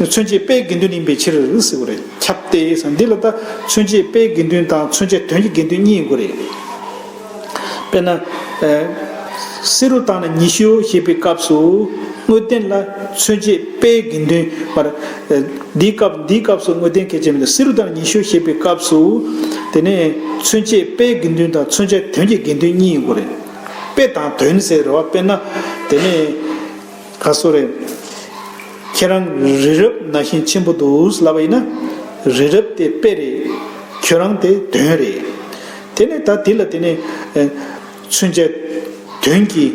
མཚོན་བྱེད་དཔེའི་དགེ་འདུན་ཡིན་པའི་ཕྱིར། ཟེར་བ་རེད་ཁྱབ་སྟེ། འདི་ལ་ལྟ། མཚོན་བྱེད་དཔེའི་དགེ་འདུན་དང་མཚོན་བྱེད་དོན་གྱི་དགེ་འདུན་གཉིས་ཡིན་དགོས་རེད། དཔེར་ན། བསེ་རུ་དང་ན་ཉི་ཤུ་ཞེས་པའི་སྐབས་སུ། དངོས་བསྟན་ལ་མཚོན་བྱེད་དཔེའི་དགེ་འདུན། འདིའི་སྐབས་འདིའི་སྐབས་སུ་དངོས་བསྟན་གལ་ཆེ་མི་འདུག་བསེ་རུ་དང་ན་ཉི་ཤུ་ཞེས་པའི་སྐབས་སུ། དེ་ནས། མཚོན་བྱེད་དཔེའི་དགེ་འདུན་དང་མཚོན་བྱེད་དོན་གྱི་དགེ་འདུན་གཉིས་ཡིན་དགོས་རེད། དཔེ་དང་དོན་ཟེར་བ་དཔེར་ན། དེ་ནས། ད་གཟོ་རེད། ཁྱེད་རང་རི་རབ་ན་བཞིན་ཆེན་པོ་འདུག་ལབ་པ་ཡིན་ན། རི་རབ་དེ་དཔེ་རེད། ཁྱོད་རང་དེ་དོན་རེད། དེ་ནས་ད་དེ་ལ་དེ་ནས། མཚོན་ཆའི། དོན་གྱི།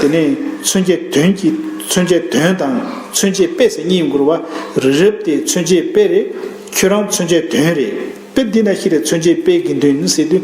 དེ་ནས་མཚོན་ཆའི་དོན་གྱི་མཚོན་ཆའི་དོན་དང་མཚོན་ཆའི་དཔེ་ཟེར་གཉིས་འགོར་བ། རི་རབ་དེ་མཚོན་ཆའི་དཔེ་རེད། ཁྱོད་རང་མཚོན་ཆའི་དོན་རེད། དཔེ་འདི་ན་ཤི་རེ་མཚོན་ཆའི་དཔེ་དགེ་འདུན་ཟེར་དུས།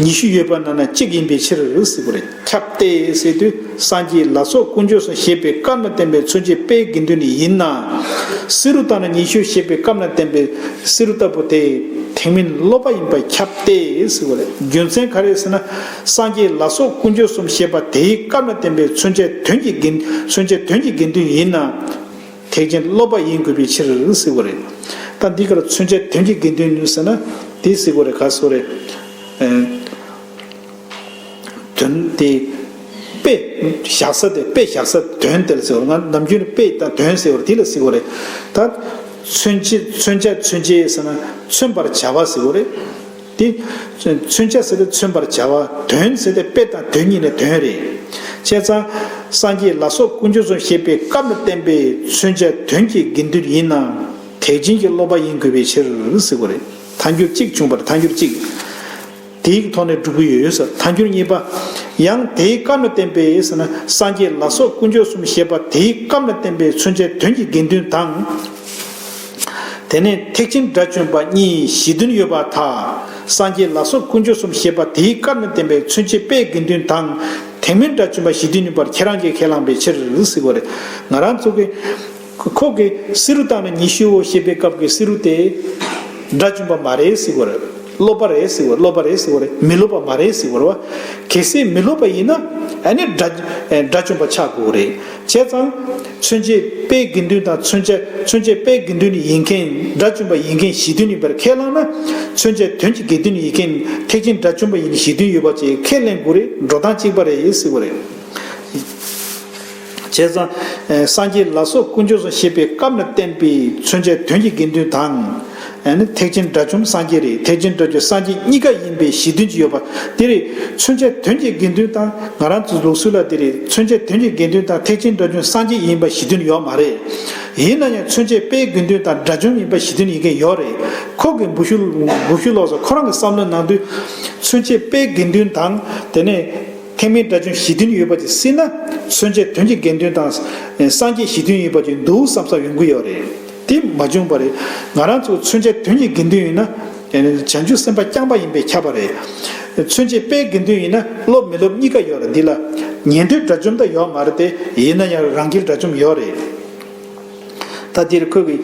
ཉི་ཤུ་ཡོད་པ་ན་ན་གཅིག་ཡིན་པའི་ཕྱིར་རུ་སི་པོ་རེ་ཁྱབ་སྟེ་སེ་དུ་སངས་རྒྱས་ལ་སོགས་དཀོན་མཆོག་སོ་ཞེས་པའི་སྐབས་ན་བསྟན་པའི་མཚོན་བྱེད་དཔེའི་དགེ་འདུན་ནི་ཡིན་ན། སི་རུ་ད་ན་ཉི་ཤུ་ཞེས་པའི་སྐབས་ན་བསྟན་པའི་སི་རུ་ལྟ་བུ་དེ་དེང་མིན་སློབ་པ་ཡིན་པ་ཁྱབ་སྟེ་སེ་བོ་རེ་རྒྱུ་མཚན་ག་རེ་ཟེར་ན་སངས་རྒྱས་ལ་སོགས་དཀོན་མཆོག་གསུམ་ཞེས་པ་དེའི་སྐབས་ན་བསྟན་པའི་མཚོན་བྱ་དོན་གྱི་དགེ་མཚོན་བྱ་དོན་གྱི་དགེ་འདུན་ཡིན་ན། ཐེག་ཆེན་སློབ་པ་ཡིན་དགོས་པའི་ཕྱིར་གཟིགས་པ་རེད། ད་འདི་གར་མཚོན་བྱ་དོན་གྱི་དགེ་འདུན་ཟེར་ན་དེ་གཟིགས་པ་རེད་ག་སོ་རེད། དོན་དེ། དཔེ་བཞག་ས་དེ་དཔེ་བཞག་ས་དོན་དེ་ལ་གཟིགས་པ་རེད། ནམ་རྒྱུན་དཔེ་དང་དོན་ཟེར་བ་དེ་ལ་གཟིགས་པ་རེད། ད། མཚོན་བྱ་མཚོན་བྱེད་ཟེར་ན་མཚོན་པར་བྱ་བ་གཟིགས་པ་རེད། དེ། མཚོན་བྱ་ཟེར་ཏེ་མཚོན་པར་བྱ་བ། དོན་ཟེར་ཏེ་དཔེ་དང་དོན་གཉིས་ལས་དོན་རེད། བྱས་ཙང། སངས་རྒྱས་ལ་སོགས་ཀུན་སྤྱོད་ཚོ་ཞེས་པའི་སྐབས་ལ་བརྟེན་པའི་མཚོན་བྱ་དོན་གྱི་དགེ་འདུན་ཡིན་ནམ། ཐེག་ཆེན་གྱི་སློབ་པ་ཡིན་དགོས་པའི་ཕྱིར། ཟེར་གོ་རེད། ཐ་འགྱུར་གཅིག་བྱུང་བར་ཐ་འགྱུར་གཅིག། དེའི་ཐོག་ནས་སྒྲུབ་ཀྱི་ཡོད་ཟེར་ཐ་འགྱུར་གཉིས་པ། ཡང་དེའི་སྐབས་ལ་བརྟེན་པའི་ཟེར་ན་སངས་རྒྱས་ལ་སོགས་ཀུན་སྤྱོད་གསུམ་ཞེས་པ་དེའི་སྐབས་ལ་བརྟེན་པའི་མཚོན་བྱ་དོན་གྱི་དགེ་འདུན་དང། དེ་ནས་ཐེག་ཆེན་དགྲ་བཅོམ་པ་གཉིས་གཞི་མཐུན་ཡོད་པ་དག་སངས་རྒྱས་ལ་སོགས་ཀུན་སྤྱོད་གསུམ་བཤད་པ་དེའི་སྐབས་ན་བསྟན་པའི་མཚོན་བྱེད་དཔེའི་དགེ་འདུན་དང། དེ་མིན་དགྲ་བཅོམ་པ་གཞི་མཐུན་ཡིན་པར་ཁྱེད་རང་གིས་ཁས་བླངས་པའི་ཕྱིར། ང་རང་ཚོ་གི། ཁོག་གི་བསེ་རུ་བཏགས་ན་ཉི་ཤུའོ་ཞེས་པའི་སྐབས་ཀྱི་བསེ་རུ་དེ། དགྲ་བཅོམ་པ་མ་རེད། སློབ་པ་རེད། སློབ་པ་རེད། མི་སློབ་པ་མ་རེད། གལ་སྲིད་མི་སློབ་པ་ཡིན་ན། ཨ་ནི་དགྲ་བཅོམ་པ་ཆགས་དགོས་རེད། བྱས་ཙང། མཚོན་བྱེད་དཔེའི་དགེ་འདུན་དང་མཚོན་བྱ་མཚོན་བྱེད་དཔེའི་དགེ་འདུན་ཡིན་མཁན་སྒྲ་བཅོམ་པ་ཡིན་མཁན་གཞི་མཐུན་ཡིན་པར་ཁས་བླངས་ན། མཚོན་བྱ་དོན་གྱི་དགེ་འདུན་ཡིན་མཁན་ཐེག་ཆེན་སྒྲ་བཅོམ་པ་ཡིན་གཞི་མཐུན་ཡོད་པ་བཅས་ཁས་ལེན་དགོས་རེད་འགྲོ་སྟངས་གཅིག་པ་རེད་ཟེར་བ་རེད། བྱས་ཙང། སངས་རྒྱས་ལ་སོགས་དཀོན་མཆོག་སོ་ཞེས་པའི་སྐབས་ན་བསྟན་པའི་མཚོན་བྱ་དོན་གྱི་དགེ་འདུན་དང། ཐེག་ཆེན་དགྲ་བཅོམ་སངས་རྒྱས་རེད་ཐེག་ཆེན་སྤྲོ་བསྡུ་སངས་རྒྱས་གཉིས་ཀ་ཡིན་པའི་གཞི་མཐུན་གྱི་ཡོད་པ་དེ་རེད་མཚོན་བྱ་དོན་གྱི་དགེ་འདུན་དང་ང་རང་ཚོ་ལུགས་སྲོལ་ལ་དེ་རེད་མཚོན་བྱ་དོན་གྱི་དགེ་འདུན་དང་ཐེག་ཆེན་དགྲ་བཅོམ་སངས་རྒྱས་ཡིན་པ་གཞི་མཐུན་ཡོད་མ་རེད་ཡིན་ན་ཡང་མཚོན་བྱ་དཔེའི་དགེ་འདུན་དང་དགྲ་བཅོམ་ཡིན་པ་གཞི་མཐུན་ཡིན་མཁན་ཡོད་རེད་ཁོག་གི་འབུ་ཤུ་ལོག་སོང་ཁོ་རང་གི་བསམ་བློའི་ནང་དུ། མཚོན་བྱ་དཔེའི་དགེ་འདུན་དང་དེ་ནས་ཐེག་དམན་དགྲ་བཅོམ་གཞི་མཐུན་ཡོད་པ་དེ་སྲིད་ན་མཚོན་བྱ་དོན་གྱི་དགེ་འདུན་དང་སངས་རྒྱས་གཞི་མཐུན་ཡིན་པ་ཅིག་འདུག་བསམ་བསམ་ཡོང་གི་ཡོད་རེད། དེ་མ་བྱུང་བར་ང་རང་ཚོ་མཚོན་ཆ་དོན་གྱི་དགེ་འདུན་ཡིན་ན། བྱང་ཆུབ་སེམས་དཔའ་རྐྱང་པ་ཡིན་པས་ཁྱབ་པ་རེད། མཚོན་ཆའི་དཔེའི་དགེ་འདུན་ཡིན་ན་སློབ་མི་སློབ་གཉིས་ཀ་ཡོད་རེད་འདི་ལ། ཉན་ཐོས་དགྲ་བཅོམ་ད་ཡོད་མ་རེད་དེ་ཡིན་ན་ཡང་རང་སྒེར་དགྲ་བཅོམ་ཡོད་རེད། ད་འདིར་ཁོས་གི།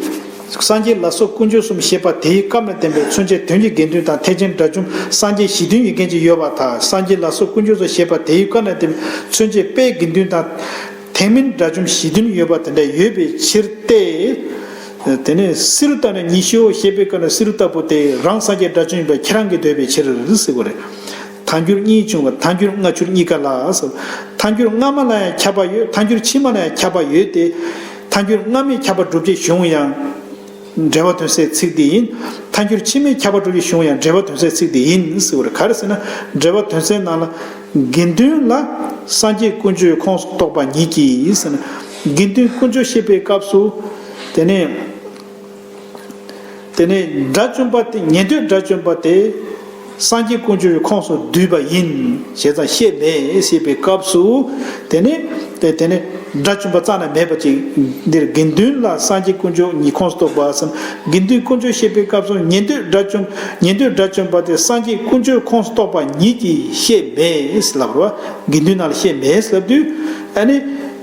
སངས་རྒྱས་ལ་སོགས་དཀོན་མཆོག་གསུམ་ཤེས་པ་དེའི་སྐབས་ན་བསྟན་པའི་མཚོན་ཆའི་དོན་གྱི་དགེ་འདུན་དང་ཐེག་ཆེན་དགྲ་བཅོམ་སངས་རྒྱས་གཞི་མཐུན་ཡིན་མཁན་ཅིག་ཡོད་པ་དག་སངས་རྒྱས་ལ་སོགས་དཀོན་མཆོག་སོགས་ཤེས་པ་དེའི་སྐབས་ན་བསྟན་པའི་མཚོན་ཆའི་དཔེའི་དགེ་འདུན་དང། དེ་མིན་དགྲ་བཅོམ་བཞི་བདུན་ཡོད་པ་དེ་འདྲ་ཡོད་པའི་ཕྱིར་ཏེ། དེ་ནས་སི་རུ་ཏཱ་ནས་ཉི་ཤུའོ་ཞེས་པའི་སྐབས་ན་སི་རུ་ཏཱ་པོ་ཏེ་རང་སངས་རྒྱས་དགྲ་བཅོམ་ཡིན་པ་ཁྱེད་རང་གིས་འདོད་པའི་ཕྱིར་ཟེར་བ་རེད། ཐ་འགྱུར་གཉིས་བྱུང་བ་ཐ་འགྱུར་སྔ་འགྱུར་གཉིས་ཀ་ལ་ཟེར། ཐ་འགྱུར་སྔ་མ་ལ་ཡང་ཁྱབ་པ་ཡོད་ཐ་འགྱུར་ཕྱི་མ་ལ་ཡང་ཁྱབ་པ་ཡོད་དེ། ཐ་འགྱུར་སྔ་མས་ཁྱབ་པ་བསྒྲུབ་བྱའི་གཞུང་ཡང། འགྲེལ་བ་དོན་སེལ་ཚིག་འདི་ཡིན། མཐའ་འགྱུར་ཕྱི་མའི་ཁྱབ་པ་དྲུག་གི་གཞུང་ཡང་འགྲེལ་བ་དོན་སེལ་ཚིག་འདི་ཡིན་ཟེར་བར་ག་རེ་ཟེར་ན། འགྲེལ་བ་དོན་སེལ་ནང་ལ། དགེ་འདུན་ལ། སངས་རྒྱས་ཀུན་སྤྱོད་ཁོངས་སུ་གཏོགས་པ་ཉིད་ཀྱིས། དགེ་འདུན་ཀུན་སྤྱོད་བཤད་པའི་སྐབས་སུ། དེ་ནས། དེ་ནས། དགྲ་བཅོམ་པ་དེ་ཉན་ཐོས་དགྲ་བཅོམ་པ་དེ། སངས་རྒྱས་ཀུན་སྤྱོད་ཀྱི་ཁོངས་སུ་བསྡུས་པ་ཡིན། ཞེས་ཙམ་བཤད་མེད་ཞེས་པའི་སྐབས་སུ། དེ་ནི། དེ་ནི། སྒྲ་བཅུ་པ་རྩ་ན་མེད་པ་ཅིག། འདིར་དགེ་འདུན་ལ་སངས་རྒྱས་ཀུན་སྤྱོད་ཉིད་ཁོངས་སུ་གཏོགས་པ་བསམ། དགེ་འདུན་ཀུན་སྤྱོད་བཤད་པའི་སྐབས་སུ་ཉན་ཐོས་སྒྲ་བཅུ། ཉན་ཐོས་སྒྲ་བཅུ་པ་དེ་སངས་རྒྱས་ཀུན་སྤྱོད་ཁོངས་སུ་གཏོགས་པ་ཉིད་ཀྱིས་བཤད་མེད་ལབ། དགེ་འདུན་རྣམས་ལ་བཤད་མེད་ལབ་དུས།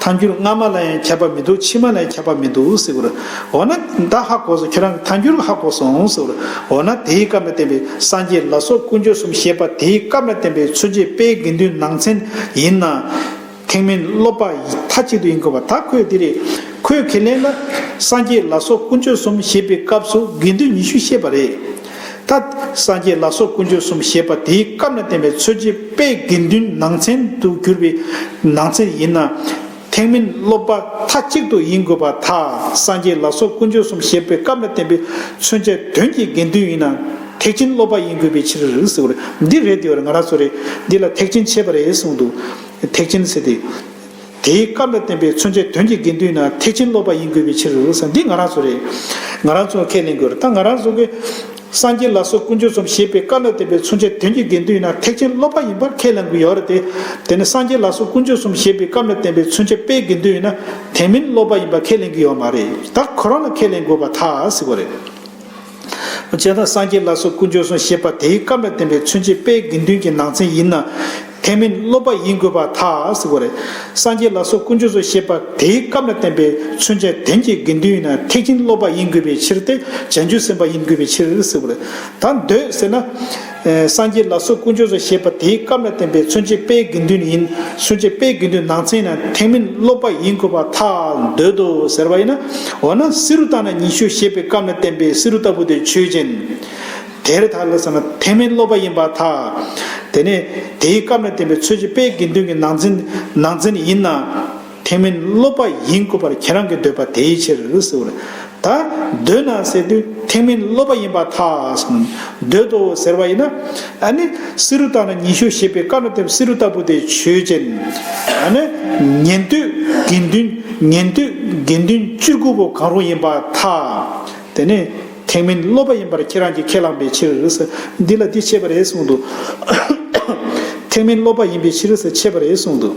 ཐཱན་འགྱུར་སྔ་མ་ལ་ཡང་ཁྱབ་པ་མི་འདུག་ཕྱི་མ་ལ་ཡང་ཁྱབ་པ་མི་འདུག་ཟེར་བར། འོ་ན་ད་ཧ་གོ་སོང་ཁྱོད་རང་གི་ཐཱན་འགྱུར་ཧ་གོ་སོང་ཟེར་བར། འོ་ན་དེའི་སྐབས་ལ་བརྟེན་པའི་སངས་རྒྱས་ལ་སོགས་ཀུན་སྤྱོད་གསུམ་བཤད་པ་དེའི་སྐབས་ལ་བརྟེན་པའི་མཚོན་བྱེད་དཔེའི་དགེ་འདུན་ནང་ཚན་ཡིན་ན། ཐེག་དམན་སློབ་པ་ཡི་མཐའ་གཅིག་ཏུ་ཡིན་དགོས་པ་ད་ཁོས་འདི་རེད། ཁོས་ཁས་ལེན་ན། སངས་རྒྱས་ལ་སོགས་ཀུན་སྤྱོད་གསུམ་བཤད་པའི་སྐབས་སུ་དགེ་འདུན་ཉི་ཤུ་བཤད་པ་རེད། ད་སངས་རྒྱས་ལ་སོགས་དཀོན་མཆོག་གསུམ་ཞེས་པ་དེའི་སྐབས་ན་བསྟན་པའི་ཚུལ་གྱི་དཔེ་དགེ་འདུན་ནང་ཚན་དུ་གྱུར་པའི་ནང་ཚན་ཡིན་ན། ཐེག་དམན་སློབ་པ་མཐའ་གཅིག་ཏུ་ཡིན་དགོས་པ་དག་སངས་རྒྱས་ལ་སོགས་དཀོན་མཆོག་གསུམ་ཞེས་པའི་སྐབས་ན་བསྟན་པའི་མཚོན་བྱ་དོན་གྱི་དགེ་འདུན་ཡིན་ན་ཐེག་ཆེན་སློབ་པ་ཡིན་དགོས་པའི་ཕྱིར་ཟེར་བར་འདི་རེད་འདི་བར་ང་རང་ཚོ་རེད་འདི་ལ་ཐེག་ཆེན་འཆད་པ་རེད་གསུངས་འདུག་ཐེག་ཆེན་ཟེར་ཏེ། དེའི་སྐབས་ལ་བརྟེན་པའི་མཚོན་བྱའི་དོན་གྱི་དགེ་འདུན་ནི་ཐེག་ཆེན་སློབ་པ་ཡིན་དགོས་པའི་ཕྱིར་རོ། འདི་ང་རང་ཚོ་རེད། ང་རང་ཚོས་ཁས་ལེན་དགོས་རེད་ད་ང་རང་ཚོ་གིས། སངས་རྒྱས་ལ་སོགས་ཀུན་སྤྱོད་གསུམ་ཞེས་པའི་སྐབས་ལ་བརྟེན་པའི་མཚོན་བྱའི་དོན་གྱི་དགེ་འདུན་ནི་ཐེག་ཆེན་སློབ་པ་ཡིན་པར་ཁས་ལེན་དགོས་ཡོད་རེད་དེ། དེ་ནི་སངས་རྒྱས་ལ་སོགས་ཀུན་སྤྱོད་གསུམ་ཞེས་པའི་སྐབས་ལ་བརྟེན་པའི་མཚོན་བྱ་དཔེའི་དགེ་འདུན་ནི་དེ་མིན་སློབ་པ་ཡིན་པར་ཁས་ལེན་གྱི་ཡོད་མ་རེད་ད་ཁོ་རང་ལ་ཁས་ལེན་དགོས་པ་ཐག་ཟིག་པོ་རེད། བྱས་ན་སངས་རྒྱས་ལ་སོགས་ཀུན་སྦྱོར་གསུངས་ཞེས་པ་དེའི་སྐབས་ལ་བརྟེན་པའི་མཚོན་བྱེད་དཔེའི་དགེ་འདུན་གྱི་ནང་ཚན་ཡིན་ན། དེ་མིན་སློབ་པ་ཡིན་དགོས་པ་ཐག་གོ་རེད། སངས་རྒྱས་ལ་སོགས་ཀུན་སྦྱོར་གསུངས་ཞེས་པ་དེའི་སྐབས་ལ་བརྟེན་པའི་མཚོན་བྱ་དོན་གྱི་དགེ་འདུན་ཡིན་ན་ཐེག་ཆེན་སློབ་པ་ཡིན་དགོས་པའི་ཕྱིར་ཏེ་བྱང་ཆུབ་སེམས་དཔའ་ཡིན་དགོས་པའི་ཕྱིར་གོ་རེད། ད་འདོད་ཟེར་ན། སངས་རྒྱས་ལ་སོགས་ཀུན་སྤྱོད་སོ་ཞེས་པ་དེའི་སྐབས་ལ་བརྟེན་པའི་མཚོན་བྱེད་དཔེའི་དགེ་འདུན་ཡིན། མཚོན་བྱེད་དཔེའི་དགེ་འདུན་ནང་ཚན་ན་ཐེག་དམན་སློབ་པ་ཡིན་དགོས་པ་ཐག་འདོད་དོ་ཟེར་བ་ཡིན་ན། འོ་ན་བསེ་རུ་དང་ན་ཉི་ཤུ་ཞེས་པའི་སྐབས་ན་བསྟན་པའི་བསེ་རུ་ལྟ་བུ་དེ་ཆོས་ཅན། དེར་ཐག་ལ་ཟེར་ན་ཐེག་དམན་སློབ་པ་ཡིན་པ་ཐག། དེ་ནས་དེའི་སྐབས་ན་བསྟན་པའི་མཚོན་བྱེད་དཔེའི་དགེ་འདུན་གྱི་ནང་ཚན་ནང་ཚན་ཡིན་ན། དེ་མིན་སློབ་པ་ཡིན་དགོས་པར་ཁྱེད་རང་གི་འདོད་པ་དེའི་ཕྱིར་ཟེར་བ་རེད། ད་འདོད་ན་ཟེར་དུས་དེ་མིན་སློབ་པ་ཡིན་པ་ཐག་འདོད་དོ་ཟེར་བ་ཡིན་ན། ཨཱ་ནི། བསེ་རུ་བཏགས་ན་ཉི་ཤུ་ཞེས་པའི་བཀའ་ནོ་དེབ་བསེ་རུ་ལྟ་བུ་དེ་ཆོས་ཅན། ཨཱ་ནི། ཉན་ཐོས་དགེ་འདུན་ཉན་ཐོས་དགེ་འདུན་བཅུ་དགུ་པོ་གང་རུང་ཡིན་པ་ཐག། དེ་ནི། དེ་མིན་སློབ་པ་ཡིན་པར་ཁྱེད་རང་གིས་ཁས་བླངས་པའི་ཕྱིར། འདི་ལ་འདི་འཆད་པ་རེད་གསུངས་འདུག་དེ་མིན་སློབ་པ་ཡིན་པའི་ཕྱིར་ཟེར་འཆད་པ་རེད་གསུངས་འདུག།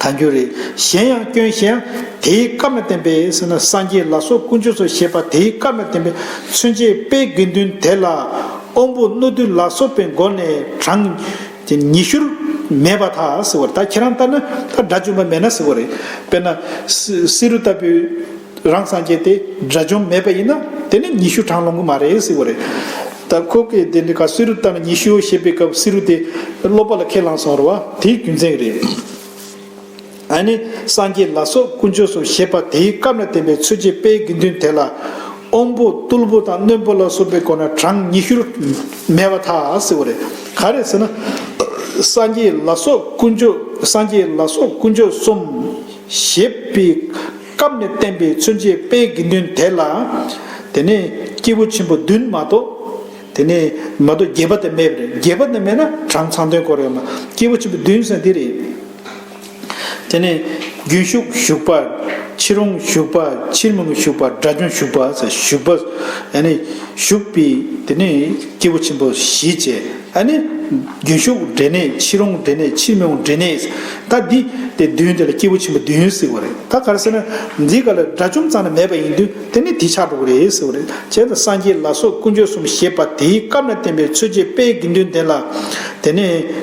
ད་འགྱུར་རེ། གཞན་ཡང་སྐྱོན་གཞན་ཡང། དེའི་བཀའ་མ་བསྟན་པའི་ཟེར་ན་སངས་རྒྱས་ལ་སོགས་དཀོན་མཆོག་སོགས་ཞེས་པ་དེའི་བཀའ་མ་བསྟན་པའི་མཚོན་བྱེད་དཔེའི་དགེ་འདུན་དེ་ལ། དབང་པོ་རྣོ་རྟུལ་ལ་སོགས་པའི་སྒོ་ནས་གྲངས། ཉི་ཤུར། མེད་པ་དག་ཟེར་བ་ལྟར་ཁྱེད་རང་ལྟར་ན་ད་སྒྲ་བཅོམ་པ་མེད་ན་ཟེར་བ་རེད། དཔེར་ན། བསེ་རུ་ལྟ་བུའི། རང་སངས་རྒྱས་དེ་དགྲ་བཅོམ་མེད་པ་ཡིན་ན་དེ་ནི་ཉི་ཤུ་གྲངས་ལོངས་གི་མ་རེད་ཟེར་བ་རེད། ད་ཁོ་གིས་དེ་འདྲའི་ཁར་བསེ་རུ་ལྟ་ན་ཉི་ཤུའོ་ཞེས་པའི་སྐབས་བསེ་རུ་དེ་སློབ་པ་ལ་ཁས་བླངས་སོང་བ་དེའི་རྒྱུ་མཚན་རེད། ཨཱ་ནི་སངས་རྒྱས་ལ་སོགས་དཀོན་མཆོག་གསུམ་ཞེས་པ་དེའི་སྐབས་ན་བསྟན་པའི་ཚུལ་གྱི་དཔེའི་དགེ་འདུན་དེ་ལ། དབོན་པོ་རྟུལ་པོ་དང་རྣོན་པོ་ལ་སོགས་པའི་སྐོར་ན་གྲངས་ཉི་ཤུར་མེད་པ་ཐག་ཟེར་བ་རེད། ག་རེད་ཟེར་ན། སངས་རྒྱས་ལ་སོགས་དཀོན་མཆོག་སངས་རྒྱས་ལ་སོགས་དཀོན་མཆོག་གསུམ་ཞེས་པའི་སྐབས་ནས་བསྟན་པའི་མཚོན་བྱེད་དཔེའི་དགེ་འདུན་དེ་ལ། དེ་ནས་སྐྱེས་བུ་ཆེན་པོ་བདུན་མ་གཏོགས། དེ་ནས་མ་གཏོགས་བརྒྱད་པ་དེ་མེད་པ་རེད་བརྒྱད་པ་དེ་མེད་ན་གྲངས་ཚང་དོན་གོ་རེད་མ་སྐྱེས་བུ་ཆེན་པོ་བདུན་ཟེར་འདི་རེད། དེ་ནས་རྒྱུན་ཞུགས་ཞུགས་པ། ཕྱིར་འོང་ཞུགས་པ་ཕྱིར་མི་འོང་ཞུགས་པ་སྒྲ་སྦྱོང་ཞུགས་པ་ཞུགས་པ། ཡང་ན་ཞུགས་པའི་དེ་ནས་སྐྱེས་བུ་ཆེན་པོ་བཞི་བཅས། ཨ་ནི། རྒྱུན་ཞུགས་འབྲས་གནས་ཕྱི་རོང་འབྲས་གནས་ཕྱི་མི་འོང་འབྲས་གནས། ད་འདི། དེ་བདུན་དེ་ལ་སྐྱེས་བུ་ཆེན་པོ་བདུན་ཡོད་ཟེར་བ་རེད་ད་གར་ཟེར་ན། འདི་ག་ལ་དགྲ་བཅོམ་ཙམ་ན་མེད་པ་ཡིན་དུས་དེ་ནི་དེ་ཆགས་འགྲོ་གི་རེད་ཟེར་བ་རེད་བྱས་ད་སངས་རྒྱས་ལ་སོགས་དཀོན་མཆོག་གསུམ་ཞེས་པ་དེའི་སྐབས་ན་བསྟན་པའི་མཚོན་བྱེད་དཔེའི་དགེ་འདུན་ལྡན་ལ། དེ་ནས།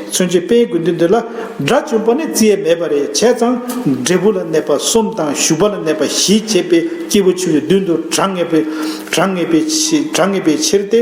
མཚོན་བྱེད་དཔེའི་དགེ་འདུན་དེ་ལ། དགྲ་བཅོམ་པ་ནི་བརྩི་ཡས་མེད་པ་རེད་བྱས་ཙང། འབྲས་བུ་ལ་གནས་པ་གསུམ་དང་ཞུགས་པ་ལ་གནས་པ་བཞི་བྱས་པའི་སྐྱེས་བུ་ཆེན་པོའི་མདུན་དུ་དྲང་ངེས་པའི་དྲང་ངེས་པའི་ཕྱིར་ཏེ།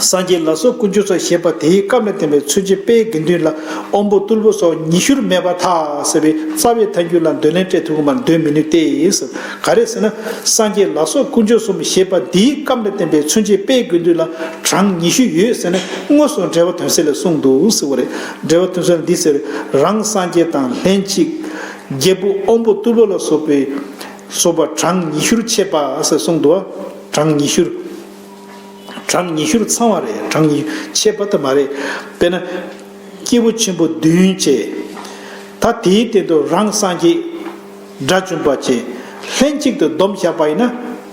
སངས་རྒྱས་ལ་སོགས་ཀུན་སྤྱོད་ཚོགས་ཞེས་པ་དེའི་སྐབས་ལ་བརྟེན་པའི་ཚུལ་བྱེད་དཔེའི་དགེ་འདུན་ལ་དབང་པོ་རྟུལ་པོ་སོགས་ཉི་ཤུར་མེད་པར་ཐག་ཟེར་བའི་རྩ་བའི་མཐའ་འགྱུར་ལ་འདོད་ལན་སྤྲད་ཐུབ་མར་འདོད་མི་ནུས་ཏེ། ག་རེ་ཟེར་ན། སངས་རྒྱས་ལ་སོགས་ཀུན་སྤྱོད་གསུམ་ཞེས་པ་འདིའི་སྐབས་ལ་བརྟེན་པའི་ཚུལ་བྱེད་དཔེའི་དགེ་འདུན་ལ་གྲངས་ཉི་ཤུ་ཡོད་ཟེར་ན་དངོས་སུ་འགྲེལ་བ་དོན་ཟེར་ལས་གསུངས་འདུག་ཟེར་བ་རེད། འགྲེལ་བ་དོན་ཟེར་ལ་འདི་ཟེར། རང་སངས་རྒྱས་དང་ལྷན་ཅིག། རྒྱལ་པོ་དབང་པོ་རྟུལ་པོ་ལ་སོགས་པའི། སོགས་པ་གྲངས་ཉི་ཤུར་འཆད་པ་ཟེར་གསུངས་འདུག་གྲངས་ཉི་ཤུར། གྲངས་ཉི་ཤུར་ཚང་བ་རེད་གྲངས་ཉི་ཤུ་ཆད་པ་ད་མ་རེད། དཔེར་ན། སྐྱེས་བུ་ཆེན་པོ་བདུན་བཅས། ད་དེའི་སྟེང་དུ་རང་སངས་རྒྱས། དགྲ་བཅོམ་པ་བཅས། ལྷན་ཅིག་ཏུ་སྡོམ་བཞག་པ་ཡིན་ན།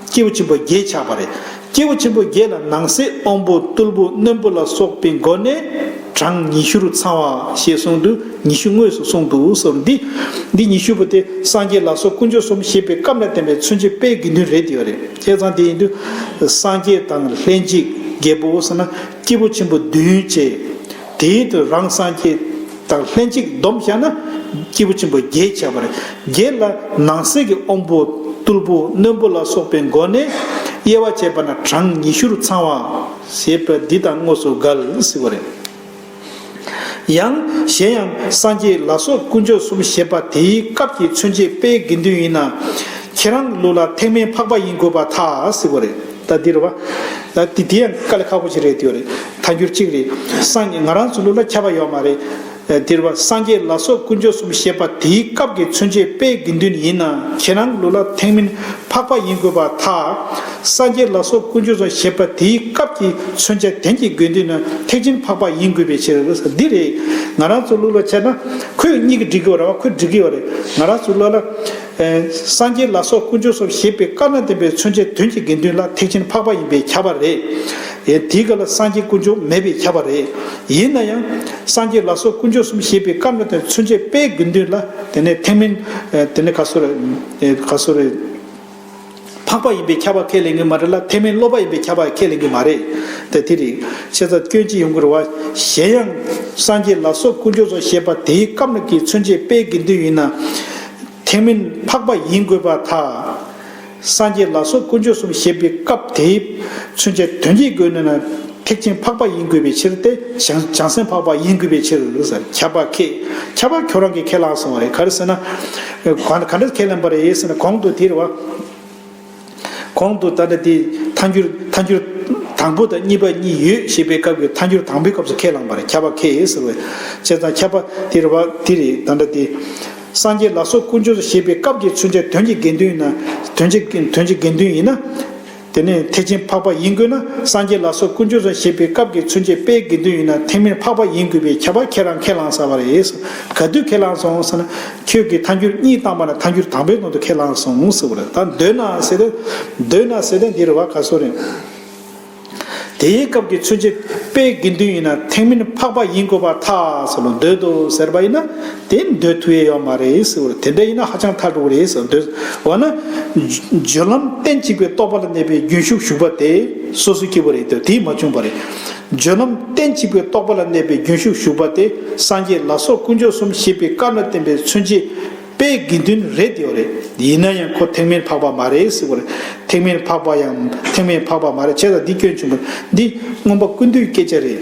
སྐྱེས་བུ་ཆེན་པོ་བརྒྱད་ཆགས་པ་རེད། སྐྱེས་བུ་ཆེན་པོ་བརྒྱད་ལ་ནང་གསེས་དབང་པོ་རྟུལ་པོ་རྣོན་པོ་ལ་སོགས་པའི་སྒོ་ནས་གྲངས་ཉི་ཤུར་ཚང་བ་ཞེས་གསུངས་འདུག་ཉི་ཤུ་དངོས་སུ་གསུངས་འདུག་གསུངས། འདི་ཉི་ཤུ་པོ་དེ་སངས་རྒྱས་ལ་སོགས་དཀོན་མཆོག་གསུམ་ཞེས་པའི་སྐབས་ལ་བརྟེན་པའི་མཚོན་བྱེད་དཔེའི་དགེ་འདུན་རེད་དེ་ཡོད་རེད། ཁྱད་ཚང་དེ་ཡིན་དུས། སངས་རྒྱས་དང་ལྷན་ཅིག་རྒྱལ་པོ་བསོད་ནམས་སྐྱེས་བུ་ཆེན་པོ་བདུན་བཅས། དེ་ཡིན་དུས་རང་སངས་རྒྱས་དང་ལྷན་ཅིག་སྡོམ་བཞག་ན། སྐྱེས་བུ་ཆེན་པོ་བརྒྱད་བྱ་བར་བརྒྱད་ལ་ནང་གསེས་ཀྱི་དབོན་པོ་རྟུལ་པོ་རྣོན་པོ་ལ་སོགས་པའི་མགོ་ནས་དབྱེ་བ་བྱས་པ་ན་གྲངས་ཉི་ཤུར་ཚང་བ། ཞེས་པ་འདི་དང་དངོས་སུ་འགལ་སྲིད་པ་རེད། ཡང། གཞན་ཡང། སངས་རྒྱས་ལ་སོགས་དཀོན་མཆོག་གསུམ་ཞེས་པ་དེའི་སྐབས་ཀྱི་མཚོན་བྱེད་དཔེའི་དགེ་འདུན་ཡིན་ན། ཁྱེད་རང་གི་ལུགས་ལ་ཐེག་དམན་འཕགས་པ་ཡིན་དགོས་པ་ཐག་སི་ཁོ་རེད། ད་འདིར་བ། ད་དེ་དེ་ཡང་དཀའ་ལས་ཁག་པོ་ཞིག་རེད་དེའོ་རེད། ཐ་འགྱུར་གཅིག་རེད། སངས་རྒྱས་ང་རང་ཚོའི་ལུགས་ལ་ཁྱབ་པ་ཡོད་མ་རེད། འདིར་བ། སངས་རྒྱས་ལ་སོགས་དཀོན་མཆོག་གསུམ་ཞེས་པ་དེའི་སྐབས་ཀྱི་མཚོན་བྱེད་དཔེའི་དགེ་འདུན་ཡིན་ན་ཁྱེད་རང་གི་ལུགས་ལ་ཐེག་དམན་འཕགས་པ་ཡིན་དགོས་པ་ཐག་སངས་རྒྱས་ལ་སོགས་ཀུན་སྤྱོད་ཚོགས་ཞེས་པ་དེའི་སྐབས་ཀྱི་མཚོན་བྱ་དོན་གྱི་དགོས་འདུན་ནི་ཐེག་ཆེན་འཕགས་པ་ཡིན་དགོས་པའི་ཕྱིར། འདི་རེད། ང་རང་ཚོ་ལུགས་ལ་བྱས་ན། ཁོས་གཉིས་ཀྱི་འགྲིག་གི་རེད། ཁོས་འགྲིག་གི་ཡོད་རེད། ང་རང་ཚོས་ལུགས་ལ། སངས་རྒྱས་ལ་སོགས་ཀུན་སྤྱོད་ཚོགས་ཞེས་པའི་བཀའ་གནང་བསྟན་པའི་མཚོན་བྱ་དོན་གྱི་དགེ་འདུན་ལ་ཐེག་ཆེན་འཕགས་པ་ཡིན་པས་ཁྱབ་པ་རེད། དེའི་སྐབས་ལ་སངས་རྒྱས་ཀུན་སྤྱོད་མེད་པས་ཁྱབ་པ་རེད། ཡིན་ན་ཡང། སངས་རྒྱས་ལ་སོགས་ཀུན་སྤྱོད་གསུམ་ཞེས་པའི་བཀའ་གནང་བསྟན་མཚོན་བྱ་དཔེའི་དགོས་འདུན་ལ་དེ་ནས་ཐེག་མིན། དེ་ནས་ག་སོ་རེད། འཕགས་པ་ཡིན་པས་ཁྱབ་པར་ཁས་ལེན་གྱི་མ་རེད་ལ་ཐེག་དམན་སློབ་པ་ཡིན་པས་ཁྱབ་པར་ཁས་ལེན་གྱི་མ་རེད་དེ། དེ་རིག་བྱེད་ཚ་སྐྱོན་ཅི་ཡོང་གི་རུང་བ། གཞན་ཡང། སངས་རྒྱས་ལ་སོགས་དཀོན་མཆོག་སོགས་བཞེད་པ་དེའི་སྐབས་ན་གྱི་མཚོན་བྱེད་དཔེའི་དགེ་འདུན་ཡིན་ན། ཐེག་དམན་འཕགས་པ་ཡིན་དགོས་པར་ཐལ། སངས་རྒྱས་ལ་སོགས་དཀོན་མཆོག་གསུམ་བཞེད་པའི་སྐབས་དེའི་མཚོན་བྱེད་དོན་གྱི་དགོས་ནུས་ན། ཐེག་ཆེན་འཕགས་པ་ཡིན་དགོས་པའི་ཕྱིར་ཏེ། བྱང་སེམས་འཕགས་པ་ཡིན་དགོས་པའི་ཕྱིར། ཁྱབ་པ་ཁས། ཁྱབ་པ་ཁྱོད་རང་གིས་ཁས་བླངས་སོང་བ་རེད་ག་རེ་ཟེར་ན། ག་འདྲ་ཁས་ལེན་པ་རེད་ཟེར་ན་གོང་དུ་དེར་བ། གོང་དུ་ད་ནི་དེ་མཐའ་འགྱུར་མཐའ་འགྱུར། དང་པོ་དང་གཉིས་པ་གཉིས་ཡོད་ཞེས་པའི་སྐབས་ཀྱི་མཐའ་འགྱུར་དང་པོའི་སྐབས་སུ་ཁས་བླངས་པ་རེད་ཁྱབ་པ་ཁས་ཟེར་བའི། བྱས་ཙང་ཁྱབ་པ་དེར་བ་དེ་རེད་ག་འདྲ་དེ། སངས་རྒྱས་ལ་སོགས་དཀོན་མཆོག་ཞེས་པའི་སྐབས་ཀྱི་མཚོན་བྱ་དོན་གྱི་དགེ་འདུན་ཡིན་ན། དོན་གྱི་དགེ་འདུན་ཡིན་ན། དེ་ནས་ཐེག་ཆེན་འཕགས་པ་ཡིན་དགོས་ན་སངས་རྒྱས་ལ་སོགས་ཀུན་སྤྱོད་རང་ཞེས་པའི་སྐབས་ཀྱི་ཚུན་ཆད་དཔེའི་དགེ་འདུན་ཡིན་ན་ཐེག་དམན་འཕགས་པ་ཡིན་དགོས་པའི་ཁྱད་པར་ཁྱེད་རང་ཁས་བླངས་ས་བ་རེད། ག་དུས་ཁས་བླངས་སོང་ཟེར་ན། ཁྱོད་ཀྱིས་མཐའ་འགྱུར་གཉིས་བཏང་བ་ན་མཐའ་འགྱུར་དང་པོའི་ནང་དུ་ཁས་བླངས་སོང་ཟེར་བ་རེད་ད་འདོད་ན་ཟེར་ཏེ། འདོད་ན་ཟེར་ཏེ་འདིར་བ་ག་སོ་རེད། དེའི་སྐབས་ཀྱི་ཚུན་ཆད་དཔེའི་དགེ་འདུན་ཡིན་ན་ཐེག་དམན་འཕགས་པ་ཡིན་དགོས་པར་ཐག་ཟོ་ལ་འདོད་དོ་ཟེར་བ་ཡིན་ན། དེ་འདོད་དུ་ཡེ་ཡོད་མ་རེད་ཟེར་བར་དེ་འདྲ་ཡིན་ན་ཧ་ཅང་མཐའ་དྲུག་རེད་ཟེར་འདོད། འོ་ན། སྦྱོར་ལམ་སྟན་གཅིག་པའི་རྟོགས་པ་ལ་གནས་པའི་རྒྱུན་ཞུགས་ཞུགས་པ་དེ་སོ་སོའི་སྐྱེ་བོ་རེད་འདོད་དེས་མ་བྱུང་བ་རེད། སྦྱོར་ལམ་སྟན་གཅིག་པའི་རྟོགས་པ་ལ་གནས་པའི་རྒྱུན་ཞུགས་ཞུགས་པ་དེ་སངས་རྒྱས་ལ་སོགས་དཀོན་མཆོག་གསུམ་ཤེས་པའི་སྐབས་ན་བསྟན་པའི་མཚོན་བྱེད་དཔེའི་དགེ་འདུན་རེད་འདོད་རེད། ཡིན་ན་ཡང་ཁོ་ཐེག་དམན་འཕགས་པ་མ་རེད་ཟེར་བར་ཐེག་དམན་འཕགས་པ་ཡང་ཐེག་དམན་འཕགས་པ་མ་རེད་བྱས་ཙང་འདི་སྐྱོན་བྱུང་བ་འདི་མངོན་པ་ཀུན་འདུས་སྐད་ཆ་རེད།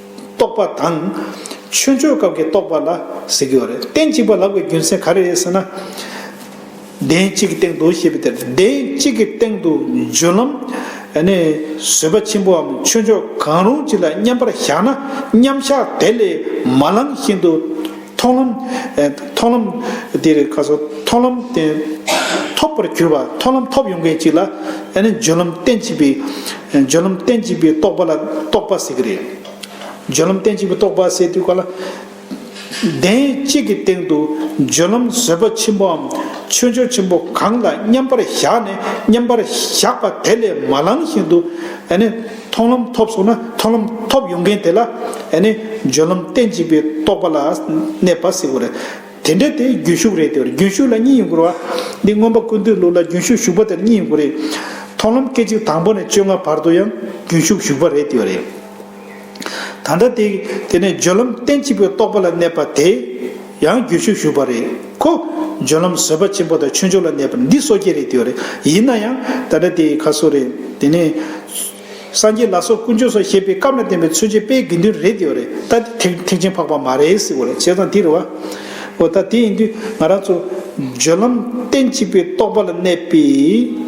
རྟོག་པ་དང། ཆོས་འཆོས་སྐབས་ཀྱི་རྟོག་པ་ལ་ཟེར་གྱི་ཡོད་རེད། སྟན་གཅིག་པ་ལག་པའི་རྒྱུ་མཚན་ག་རེ་རེད་ཟེར་ན། གདན་གཅིག་གི་སྟེང་དུ་ཞེས་པའི་དེར་གདན་གཅིག་གི་སྟེང་དུ་འཇུ་ལམ། ནི། བཟོད་པ་ཆེན་པོའམ་ཆོས་འཆོས་གང་རུང་ཅིག་ལ་མཉམ་པར་བཞག་ན་མཉམ་བཞག་དེ་ལས་མ་ལངས་བཞིན་དུ། མཐོང་ལམ། མཐོང་ལམ། འདི་རེད་ཁ་སོ། མཐོང་ལམ། ཐོབ་པར་གྱུར་པ་མཐོང་ལམ་ཐོབ་ཡོང་མཁན་ཅིག་ལ། སྦྱོད་ལམ་གཏན་གཅིག་པའི། སྦྱོད་ལམ་གཏན་གཅིག་པའི་རྟོག་པ་ལ་རྟོག་པ་ཟེར་གྱི་རེད། སྦྱོད་ལམ་གཏན་གཅིག་པའི་རྟོག་པ་ཟེར་དུས་ག་ལ། གདན་གཅིག་གི་སྟེང་དུ་སྦྱོད་ལམ་བཟོད་པ་ཆེན་པོའམ་ཆོས་འབྱོར་ཆེན་པོ་གང་ལ་མཉམ་པར་བཞག་ནས་མཉམ་པར་བཞག་པ་དེ་ལས་མ་ལངས་བཞིན་དུ། མཐོང་ལམ་ཐོབ་སོང་ན་མཐོང་ལམ་ཐོབ་ཡོང་མཁན་དེ་ལ་ཡང་ནི་སྦྱོར་ལམ་སྟེ་འཇིག་པའི་རྟོག་པ་ལ་གནས་པ་སྲིད་པ་རེད། དེ་འདྲ་དེ་རྒྱུན་ཞུགས་རེད་དེ་རྒྱུན་ཞུགས་ལ་གཉིས་ཡོང་དགོས་རེད། འདི་མངོན་པ་ཀུན་འདུས་ལུགས་ལ་རྒྱུན་ཞུགས་ཞུགས་པ་དེར་གཉིས་ཡོང་དགོས་རེད། མཐོང་ལམ་སྐད་ཅིག་དང་པོ་ནས་བཅོ་ལྔ་བར་དུ་ཡང་རྒྱུན་ཞུགས་ཞུགས་པ་རེད་དེ་རེད། ད་ལྟ་དེ་དེ་ནས་སྦྱོར་ལམ་སྟེ་འཇིག་པའི་རྟོག་པ་ལ་གནས་པ་དེ། ཡང་རྒྱུད་ཆོས་ཞུགས་པ་རེད་ཁོ། འབྱོན་ལམ་བཟོད་པ་ཆེན་པོ་དང་ཆོས་འབྱོར་ལ་གནས་པར་འདི་སོ་སྐྱེ་རེད་འདོད་རེད་ཡིན་ན་ཡང་ད་ལྟ་དེ་ག་སོ་རེད་དེ་ནས། སངས་རྒྱས་ལ་སོགས་དཀོན་མཆོག་སོགས་ཞེས་པའི་སྐབས་ལ་བརྟེན་པའི་ཚུལ་བྱེད་དཔེའི་དགེ་འདུན་རེད་འདོད་རེད་ད་དེ་ཐེག་ཆེན་འཕགས་པ་མ་རེད་ཟེར་བ་རེད་བྱས་ཙང་དེ་རེད་བ། འོ་ད་དེ་ཡིན་དུས་ང་རང་ཚོ། འབྱོན་ལམ་སྟན་གཅིག་པའི་རྟོགས་པ་ལ་གནས་པའི།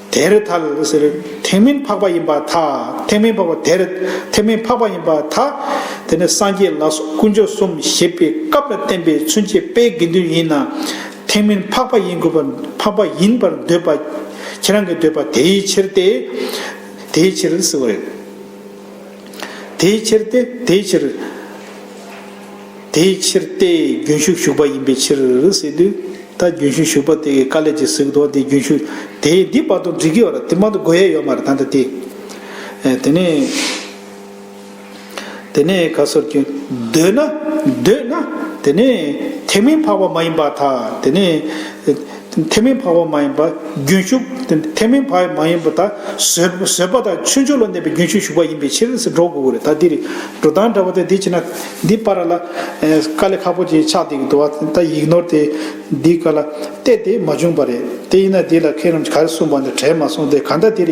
དེར་ཐལ། ཐེག་མིན་འཕགས་པ་ཡིན་པར་ཐལ། ཐེག་མིན་འཕགས་པ་དེར་ཐལ། མིན་འཕགས་པ་ཡིན་པར་ཐལ། དེ་ནི་སངས་རྒྱས་ལ་སོགས་དཀོན་མཆོག་གསུམ་བཞེད་པའི་སྐབས་ལ་བརྟེན་པའི་མཚོན་བྱེད་དཔེའི་དགེ་འདུན་ཡིན་ན། ཐེག་མིན་འཕགས་པ་ཡིན་དགོས་པར་འཕགས་པ་ཡིན་པར་འདོད་པ། ཁྱེད་རང་གི་འདོད་པ་དེའི་ཕྱིར་ཏེ། དེའི་ཕྱིར། དེའི་ཕྱིར་ཏེ། དེའི་ཕྱིར། དེའི་ཕྱིར་ཏེ་རྒྱུན་ཞུགས་ཞུགས་པ་ཡིན་པའི་ཕྱིར་ཟེར་དུས། ད་རྒྱུན་ཞུགས་ཞུགས་པ་དེ་ག་ལས་ཀྱི་གཟུགས་དང་དེའི་རྒྱུན་ཞུགས་དེ་འདི་བར་དུ་འགྲིག་གི་ཡོད་ར་དེ་མ་གཏོགས་དགོས་ཡས་ཡོད་མ་རེད་ད་ལྟ་དེ། དེ་ནས། དེ་ནས་ག་སོར་གྱི། འདོད་ན། འདོད་ན། དེ་ནས། དེ་མིན་འཕགས་པ་མ་ཡིན་པ་དག་དེ་ནས། ཐེག་མིན་འཕགས་པ་མ་ཡིན་པ་རྒྱུན་ཞུགས། ཐེག་མིན་འཕགས་པ་མ་ཡིན་པ་དག་བཟོད་པ་དང་ཆོས་མཆོག་ལ་གནས་པའི་རྒྱུན་ཞུགས་ཞུགས་པ་ཡིན་པའི་ཕྱིར་སྒྲོ་དགུ་དགུ་རེ་ད་འདིར་འགྲོ་སྟངས་འདྲ་བོ་དེ་འདི་བྱས་ན་འདི་པར་ལ་དཀའ་ལས་ཁག་པོ་ཅིག་ཆགས་འདུག་གི་འདུག་ད་ཡིག་ནོར་དེ་འདི་ག་ལ་བལྟས་དེ་མ་བྱུང་བ་རེད་དེ་ཡིན་ན་འདི་ལ་མཁས་རྣམས་ཀྱིས་ག་རེ་གསུངས་པ་འདི་དྲན་མ་སོང་སྟེ་གང་ལྟར་འདིར་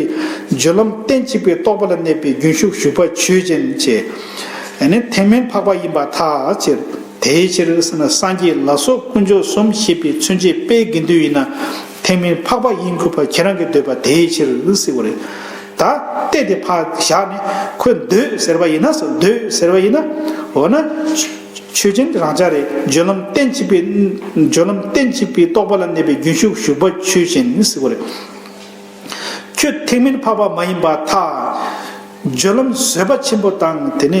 སྦྱོར་ལམ་གཏན་གཅིག་པའི་རྟོགས་པ་ལ་གནས་པའི་རྒྱུན་ཞུགས་ཞུགས་པ་ཆོས་ཅན་ཅེས། ཐེག་མིན་འཕགས་པ་ཡིན་པ་ཐག་བཅད། དེའི་ཕྱིར་སངས་རྒྱས་ལ་སོགས་དཀོན་མཆོག་གསུམ་ཤེས་པའི་མཚོན་བྱེད་དཔེའི་དགེ་འདུན་ཡིན་ན། ཐེག་དམན་འཕགས་པ་དབྱིངས་ཁུ་བ་ཁྱེད་རང་གིས་འདོད་པ་དེའི་ཕྱིར་བསྲེ་བ་རེད། ད་གཏད་དེ་ཕག་བཞག་ནས་ཁོས་འདོད་ཟེར་བ་ཡིན་ན་སོ་འདོད་ཟེར་བ་ཡིན་ན། འོ་ན། ཆོས་ཅན་རང་ཅག་རེ་སྦྱོར་ལམ་གཏན་གཅིག་པའི། སྦྱོར་ལམ་གཏན་གཅིག་པའི་རྟོགས་པ་ལ་གནས་པའི་རྒྱུན་ཞུགས་ཞུགས་པ་ཆོས་ཅན་བསྲེ་བ་རེད། ཁྱོད་ཐེག་དམན་འཕགས་པ་མ་ཡིན་པ་ཐག། སྦྱོར་ལམ་བཟོད་པ་ཆེན་པོ་དང་དེ་ནས།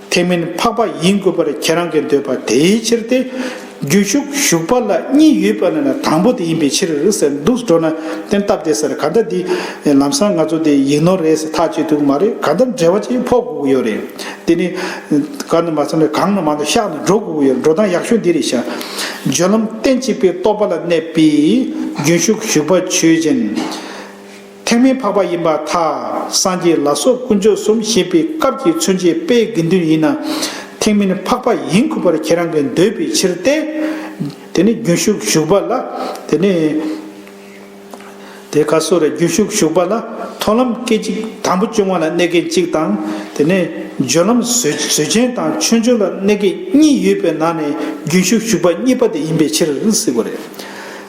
དེ་མིན་འཕགས་པ་ཡིན་དགོས་པར་ཁྱེད་རང་གིས་འདོད་པ་དེའི་ཕྱིར་ཏེ། རྒྱུ་ཞུགས་ཞུགས་པ་ལ་གཉིས་ཡོད་པ་ན་ནི་དང་པོ་དེ་ཡིན་པའི་ཕྱིར་ཟེར་འདུག་སྤྲོ་ན་བསྟན་སྟབས་བདེ་སར་ག་འདྲ་འདི་ལམ་སང་ང་ཚོ་འདི་ཡིག་ནོར་རེད་ཟེར་ཐག་བཅད་འདུག་མ་རེད་ག་འདྲ་འབྲེལ་བ་ཅིག་ཕོག་དགོས་ཀྱི་ཡོད་རེད། དེ་ནི། ག་འདྲ་མ་ཚང་ན་གང་ན་མང་དུ་གཤགས་ནས་འགྲོ་དགོས་ཀྱི་ཡོད་རེད་འགྲོ་སྟངས་ཡག་ཤོས་འདི་རེད་ཤག། བརྗོད་ལམ་གཏན་གཅིག་པའི་རྟོགས་པ་ལ་གནས་པས་རྒྱུན་ཞུགས་ཞུགས་པ་ཆོས་ཅན། ཐེག་དམན་འཕགས་པ་ཡིན་པ་ཐ་སངས་རྒྱས་ལ་སོགས་དཀོན་མཆོག་གསུམ་བཞེད་པའི་སྐབས་ཀྱི་མཚོན་བྱེད་དཔེའི་དགེ་འདུན་ཡིན་ན། ཐེག་དམན་འཕགས་པ་ཡིན་ཁུལ་པར་ཁྱེད་རང་གིས་འདོད་པའི་ཕྱིར་ཏེ། དེ་ནི་རྒྱུན་ཞུགས་ཞུགས་པ་ལ། དེ་ནི། དེ་ཁ་སོ་རེ་རྒྱུན་ཞུགས་ཞུགས་པ་ལ་མཐོང་ལམ་སྐད་ཅིག་དང་པོ་བཅུ་ལྔ་ལ་གནས་སྐལ་གཅིག་དང། དེ་ནི་སྦྱོར་ལམ་བཟོད་ཆེན་དང་ཆོས་འབྱུང་ལ་གནས་སྐལ་གཉིས་ཡོད་པའི་ནང་ནས་རྒྱུན་ཞུགས་ཞུགས་པ་གཉིས་པ་དེ་ཡིན་པའི་ཕྱིར་ཟེར་བ་རེད།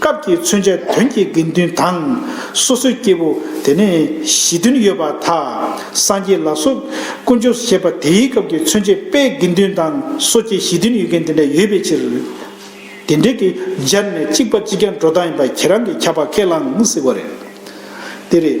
སྐབས་ཀྱི་མཚོན་བྱ་དོན་གྱི་དགེ་འདུན་དང། སོ་སོའི་སྐྱེ་བོ་དེ་ནས་གཞི་མཐུན་ཡོད་པ་དག་སངས་རྒྱས་ལ་སོགས་དཀོན་མཆོག་ཞེས་པ་དེའི་སྐབས་ཀྱི་མཚོན་བྱེད་དཔེའི་དགེ་འདུན་དང་སོ་སྐྱེ་གཞི་མཐུན་ཡོད་མཁན་དེ་འདྲ་ཡོད་པའི་ཕྱིར། དེ་འདྲ་གི་སྦྱར་ནས་གཅིག་པ་གཅིག་ཀྱང་འགྲོ་སྟངས་ཡིན་པ་ཁྱེད་རང་གིས་ཁྱབ་པ་ཁས་བླངས་ཟིག་པ་རེད། དེ་རེད།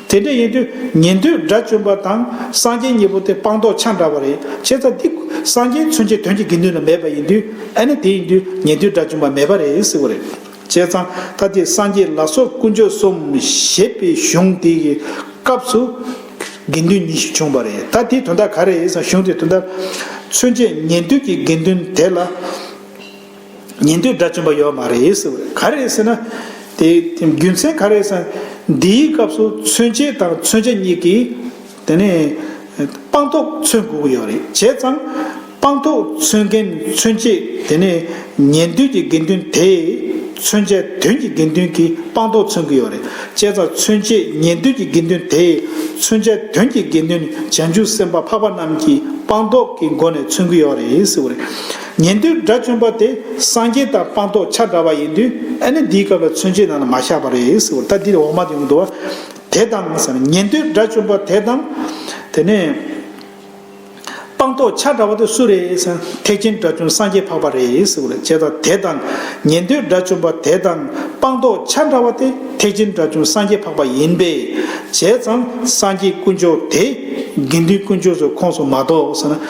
དེ་འདྲ་ཡིན་དུས་ཉན་ཐོས་དགྲ་བཅོམ་པ་དང་སངས་རྒྱས་གཉིས་པོ་དེ་སྤངས་རྟོགས་ཆ་འདྲ་བ་རེད་བྱས་ཙང་དེ་སངས་རྒྱས་མཚོན་བྱེད་དོན་གྱི་དགེ་འདུན་ལ་མེད་པ་ཡིན་དུས་ཨེ་ནི་དེ་ཡིན་དུས་ཉན་ཐོས་དགྲ་བཅོམ་པ་མེད་པ་རེད་ཟེར་བ་རེད། བྱས་ཙང་ད་དེ་སངས་རྒྱས་ལ་སོགས་དཀོན་མཆོག་གསུམ་བཞེད་པའི་གཞུང་དེ་ཡི་སྐབས་སུ་དགེ་འདུན་ཉི་ཤུ་བྱུང་བ་རེད་ད་དེའི་དོན་དག་ག་རེ་ཡིན་ཟེར་ན་གཞུང་དེའི་དོན་དག། མཚོན་བྱེད་ཉན་ཐོས་ཀྱི་དགེ་འདུན་དེ་ལ། ཉན་ཐོས་དགྲ་བཅོམ་པ་ཡོད་མ་རེད་ཟེར་བ་ག་རེད་ཟེར་ན། དེ་རྒྱུ་མཚན་ག་རེད་ཟེར་ན། འདིའི་སྐབས་སུ་མཚོན་བྱེད་དང་མཚོན་བྱ་གཉིས་ཀྱིས། དེ་ནས། སྤངས་རྟོགས་མཚོན་དགོས་ཀྱི་ཡོད་རེད་བྱས་ཙང། སྤངས་རྟོགས་མཚོན་མཁན་མཚོན་བྱེད་དེ་ནས། ཉན་ཐོས་ཀྱི་དགེ་འདུན་དེས། མཚོན་བྱ་དོན་གྱི་དགེ་འདུན་གྱིས་སྤངས་རྟོགས་མཚོན་གྱི་ཡོད་རེད་བྱས་ཙང་མཚོན་བྱེད་ཉན་ཐོས་ཀྱི་དགེ་འདུན་དེས། མཚོན་བྱ་དོན་གྱི་དགེ་འདུན་བྱང་ཆུབ་སེམས་དཔའ་འཕགས་པ་རྣམས་ཀྱིས་སྤངས་རྟོགས་ཀྱི་སྒོ་ནས་མཚོན་གྱི་ཡོད་རེད་ཟེར་བ་རེད། ཉན་ཐོས་དགྲ་བཅོམ་པ་དེ་སངས་རྒྱས་དང་སྤངས་རྟོགས་ཆ་འདྲ་བ་ཡིན་དུས་ཨེ་ནི་འདིའི་སྐབས་ལ་མཚོན་བྱེད་ནང་ན་མ་བཞག་པ་རེད་ཟེར་བ་ལྟར་འདིར་འོག་མ་དེ་ཡོང་དུ་བ། དེ་དང་ཟེར་ན་ཉན་ཐོས་དགྲ་བཅོམ་པ་དེ་དང། དེ་ནས། སྤངས་རྟོགས་ཆ་འདྲ་བ་དེ་སུ་རེད་ཟེར་ན་ཐེག་ཆེན་དགྲ་བཅོམ་སངས་རྒྱས་འཕགས་པ་རེད་ཟེར་བ་ལ་དཔྱད་ད་དེ་དང་ཉན་ཐོས་དགྲ་བཅོམ་པ་དེ་དང་སྤངས་རྟོགས་ཆ་འདྲ་བ་དེ་ཐེག་ཆེན་དགྲ་བཅོམ་སངས་རྒྱས་འཕགས་པ་ཡིན་པས་བྱས་ཙང་སངས་རྒྱས་དཀོན་མཆོག་དེ་དགེ་འདུན་དཀོན་མཆོག་ཚོའི་ཁོངས་སུ་མ་གཏོགས་ཟེར་ན།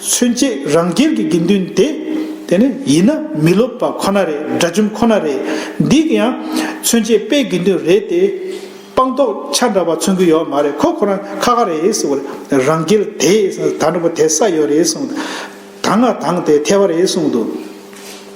མཚོན་བྱེད་རང་རྒྱལ་གྱི་དགེ་འདུན་དེ། དེ་ནི་ཡིན་ན་མི་སློབ་པ་ཁོ་ན་རེད་དགྲ་བཅོམ་ཁོ་ན་རེད། འདི་ཡང་མཚོན་བྱེད་དཔེའི་དགེ་འདུན་རེད་དེ། སྤངས་རྟོགས་ཆ་འདྲ་བ་མཚོན་གྱི་ཡོད་མ་རེད་ཁོ་ཁོ་རང་ཁ་ཁ་རེད་ཟེར་བར་རང་རྒྱལ་དེས་ད་འགྲོ་པ་དེ་ས་ཡོད་རེད་གསུངས། ད་ང་དང་དེ་ཐལ་བ་རེད་གསུངས་འདུག།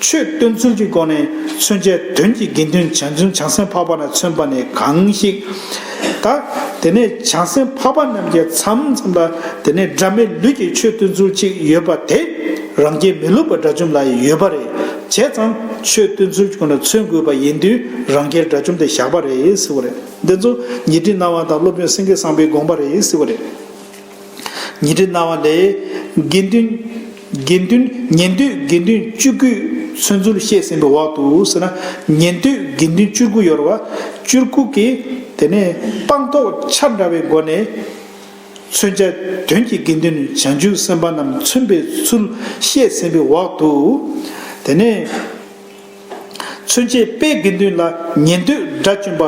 ཆོས་སྟོན་ཚུལ་གྱི་སྒོ་ནས་མཚོན་བྱའི་དོན་གྱི་དགེ་འདུན་བྱང་ཆུབ་བྱང་སེམས་འཕགས་པ་ལ་མཚོན་པ་ནི་གང་ཞིག། ད་དེ་ནས་བྱང་སེམས་འཕགས་པ་རྣམས་ཀྱི་མཚམས་མཚམས་ལ་དེ་ནས་སྒྲ་མེད་ལུས་ཀྱི་ཆོས་སྟོན་ཚུལ་གཅིག་ཡོད་པ་དེ་རང་རྒྱལ་མི་སློབ་པ་དགྲ་བཅོམ་ལ་ཡོད་པ་རེད་བྱས་ཙང་ཆོས་སྟོན་ཚུལ་གྱི་སྒོ་ནས་མཚོན་དགོས་པ་ཡིན་དུས་རང་རྒྱལ་དགྲ་བཅོམ་དེ་བཞག་པ་རེད་ཟེར་བ་རེད་འདི་ཚོ་ཉི་ཁྲི་སྣང་བ་དང་སློབ་དཔོན་སེང་གེ་སངས་པའི་དགོངས་པ་རེད་ཟེར་བ་རེད། ཉིང་ཁྲི་གནང་བ་ལས། དགེ་འདུན། དགེ་འདུན། ཉན་ཐོས་དགེ་འདུན་བཅུ་དགུའི་ཚུལ་མཚོར་བཤད་ཟིན་པའི་འོག་ཏུ་ཟེར་ན། ཉན་ཐོས་དགེ་འདུན་བཅུ་དགུ་ཡོར་བ། བཅུར་བཀུག་གི། དེ་ནས་སྤངས་རྟོགས་ཆ་འདྲ་བའི་སྒོ་ནས། མཚོན་བྱ་དོན་གྱི་དགེ་འདུན་བྱང་ཆུབ་སེམས་དཔའ་རྣམས་མཚོན་པའི་ཚུལ་བཤད་ཟིན་པའི་འོག་ཏུ། དེ་ནས། ཚུན་ཆད་དཔེ་དགེ་འདུན་ལ་ཉེ་འདོད་དགྲ་བཅོམ་པ་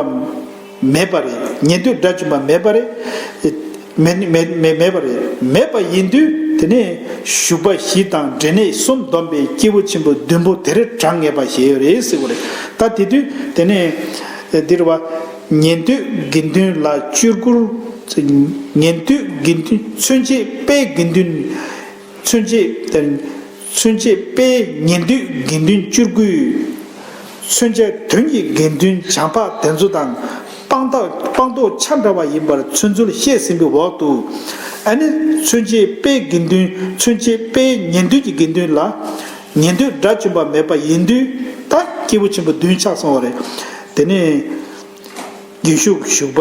མེད་པ་རེད། ཉེ་འདོད་དགྲ་བཅོམ་པ་མེད་པ་རེད། མེད། མེད། མེད་པ་རེད། མེད་པ་ཡིན་དུས་དེ་ནས་བཞུགས་པ་བཞི་དང་འབྲས་གནས་གསུམ་བསྡོམས་པས་སྐྱེས་བུ་ཆེན་པོ་བདུན་པོ་དེ་རེ་གྲངས་ངེས་པ་བཞེས་ཡོད་རེད་ཟེར་བ་རེད་ད་དེ་དུས་དེ་ནས་འདིར་བ། ཉེ་འདོད་དགེ་འདུན་ལ་བཅོས་བསྐུར། ཉེ་འདོད་དགེ་འདུན་ཚུན་ཆད་དཔེ་དགེ་འདུན། ཚུན་ཆད་བསྟན། ཚུན་ཆད་དཔེའི་ཉིང་བསྡུས་དགེ་འདུན་བཅུར་བསྐུལ། ཚུན་ཆད་དོན་གྱི་དགེ་འདུན་བྱང་འཕགས་དེ་ཚོ་དང་སྤང་ཐག་སྤང་ཐོག་ཆ་འདྲ་བ་ཡིན་པར་ཚུལ་འཛོལ་བཤད་ཟིན་པའི་འོག་ཏུ། ཨ་ནི། ཚུན་ཆད་དཔེའི་དགེ་འདུན་ཚུན་ཆད་དཔེའི་ཉིང་བསྡུས་ཀྱི་དགེ་འདུན་ལ། ཉིང་བསྡུས་སྒྲ་བཅུན་པ་མེད་པ་ཡིན་དུས་ད་སྐྱེས་བུ་ཆེན་པོ་བདུན་ཆགས་སོང་བ་རེད། དེ་ནས། དགེ་བཤུགས་བཞུགས་པ།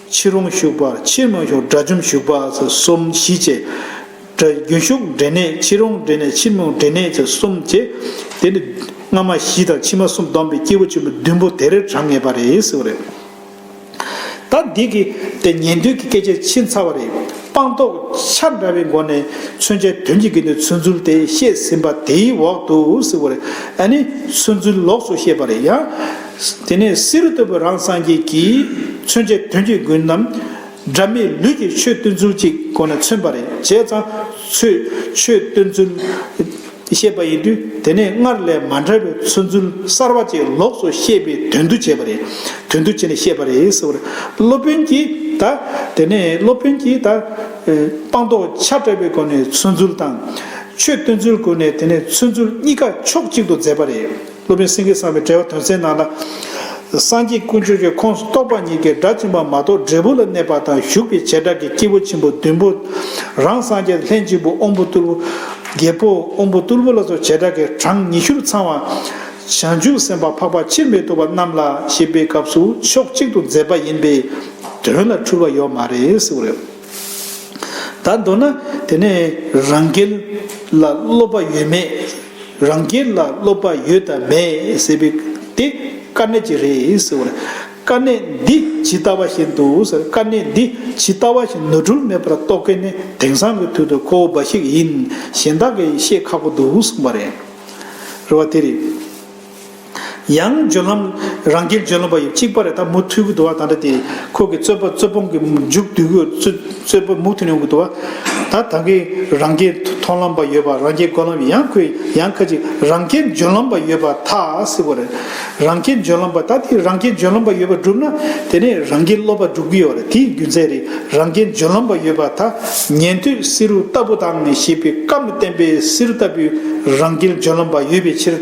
ཕྱིར་འོང་ཞུགས་པ་ཕྱིར་མ་ཞུགས་དགྲ་བཅོམ་ཞུགས་པ་ཚེ་གསུམ་བཞི་བཅས། རྒྱུན་ཞུགས་འབྲས་གནས་ཕྱིར་འོང་འབྲས་གནས་ཕྱིར་མི་འོང་འབྲས་གནས་ཚེ་གསུམ་བཅས། དེ་ནི། སྔ་མ་བཞི་དང་ཕྱི་མ་གསུམ་བསྡོམས་པས་སྐྱེས་བུ་ཆེན་པོ་བདུན་པོ་དེ་རེར་གྲངས་ངེས་པ་རེད་ཟེར་བ་རེད། ད་འདི་གི་དེ་ཉན་ཐོས་ཀྱི་སྐད་ཆའི་ཕྱིན་ཚར་བ་རེད། སྤངས་རྟོགས་ཆ་འདྲ་བའི་སྒོ་ནས་མཚོན་བྱའི་དོན་གྱི་དགེ་འདུན་མཚོན་ཚུལ་དེ་བཤད་ཟིན་པ་དེའི་འོག་ཏུ་ཟེར་བ་རེད། ནི། མཚོན་ཚུལ་ལོགས་སུ་བཤད་པ་རེད་ཡང། དེ་ནས་བསེ་རུ་ཏོ་བུ་རང་སངས་རྒྱས་ཀྱིས་མཚོན་བྱའི་དོན་གྱི་དགོས་རྣམས། སྒྲ་མེད་ལུས་ཀྱི་ཆོས་སྟོན་ཚུལ་གྱི་སྒོ་ནས་མཚོན་པ་རེད་བྱས་ཙང་ཚུལ། ཆོས་སྟོན་ཚུལ། བཤད་པ་ཡིན་དུས་དེ་ནས་སྔར་ལས་མ་འདྲ་བའི་མཚོན་ཚུལ་གསར་བ་བཅས་ལོགས་སུ་བཤད་པའི་དོན་དུ་བྱས་པ་རེད་དོན་དུ་བྱས་ནས་བཤད་པ་རེད་ཟེར་བར་སློབ་དཔོན་གྱིས་ད། དེ་ནས་སློབ་དཔོན་གྱིས་ད། སྤངས་རྟོགས་ཆ་བྲལ་བའི་སྒོ་ནས་མཚོན་ཚུལ་དང། ཆོས་སྟོན་ཚུལ་སྒོ་ནས་དེ་ནས་མཚོན་ཚུལ་གཉིས་ཀ་ཕྱོགས་གཅིག་ཏུ་མཛད་པ་རེད། སློབ་དཔོན་སེང་གེ་གསང་བའི་གྲྭ་བ་དོན་གསལ་ནང་ལ། སངས་རྒྱས་ཀུན་སྤྱོད་ཀྱི་ཁོངས་སུ་གཏོགས་པ་ཉིད་ཀྱིས་སྒྲ་འབྱིན་པ་མ་གཏོགས་འབྲས་བུ་ལ་གནས་པ་དང་ཞུགས་པའི་བྱེ་བྲག་གིས་སྐྱེས་བུ་ཆེན་པོ་བདུན་པོ། རང་སངས་རྒྱས་ལྷན་ཅིག་པུ་དབོན་པོ་གཏུར་བུ། རྒྱལ་པོ་དབོན་པོ་གཏུར་བུ་ལ་སོགས་བྱེ་བྲག་གིས་གྲངས་ཉི་ཤུར་ཚང་བ། བྱང་ཆུབ་སེམས་དཔའ་འཕགས་པ་ཕྱིར་མི་ལྡོག་པ་རྣམས་ལ་ཞེས་པའི་སྐབས་སུ་ཕྱོགས་གཅིག་ཏུ་མཛད་པ་ཡིན་པས་དོན་ལ་འཁྲུལ་བ་ཡོད་མ་རེད། ད་མདོར་ན་དེ་ནི་རང་རྒྱལ་ལ་སློབ་པ་ཡོད་མེད་རང་རྒྱལ་ལ་སློབ་པ་ཡོད་དམ་མེད་ཟེར་བའི་དེ་དཀའ་གནད་ཅིག་རེད་ཟེར་བ་ལ། དཀའ་གནད་འདི་ཇི་ལྟ་བ་བཞིན་དུ་ཟེར་དཀའ་གནད་འདི་ཇི་ལྟ་བ་བཞིན་ནོར་འཁྲུལ་མེད་པར་རྟོགས་མཁན་ནི་དེང་སང་གི་དུས་དུ་ཁོ་བོ་འབའ་ཞིག་ཡིན་གཞན་དག་གིས་ཤེས་ཁག་པོ་འདུག་གསུངས་པ་རེད། རེད་བ་དེ་རེད། ཡང་སྦྱོར་ལམ། རང་རྒྱལ་སྦྱོར་ལམ་པ་ཡི་གཅིག་པ་རེ་ད་མུ་ཐུལ་གུ་དུ་བ་དང་འདྲ་སྟེ། ཁོ་གི་རྩོད་པ་རྩོད་སྤོང་གི་མཇུག་བསྡུ་གུ་རྩོད་པ་མུ་ཐུལ་ནི་གུ་དུ་བ། ད་ད་གི་རང་རྒྱལ་མཐོང་ལམ་པ་ཡོད་པ་རང་རྒྱལ་སྒོམ་ལམ་ཡང་ཁོས་ཡང་ཁ་ཅིག་རང་རྒྱལ་སྦྱོར་ལམ་པ་ཡོད་པ་ཐ་སི་བོ་རེད། རང་རྒྱལ་སྦྱོར་ལམ་པ་ད་དེ་རང་རྒྱལ་སྦྱོར་ལམ་པ་ཡོད་པ་བསྒྲུབ་ན་དེ་ནས་རང་རྒྱལ་སློབ་པ་བསྒྲུབ་གི་ཡོད་རེད་དེའི་རྒྱུ་མཚན་རེད་རང་རྒྱལ་སྦྱོར་ལམ་པ་ཡོད་པ་ད་ཉན་ཐོས་བསེ་རུ་ལྟ་བུ་དང་ཞེས་པའི་བཀའ་མི་བསྟན་པའི་བསེ་རུ་ལྟ་བུའི་རང་རྒྱལ་སྦྱོར་ལམ་པ་ཡོད་པའི་ཕྱིར།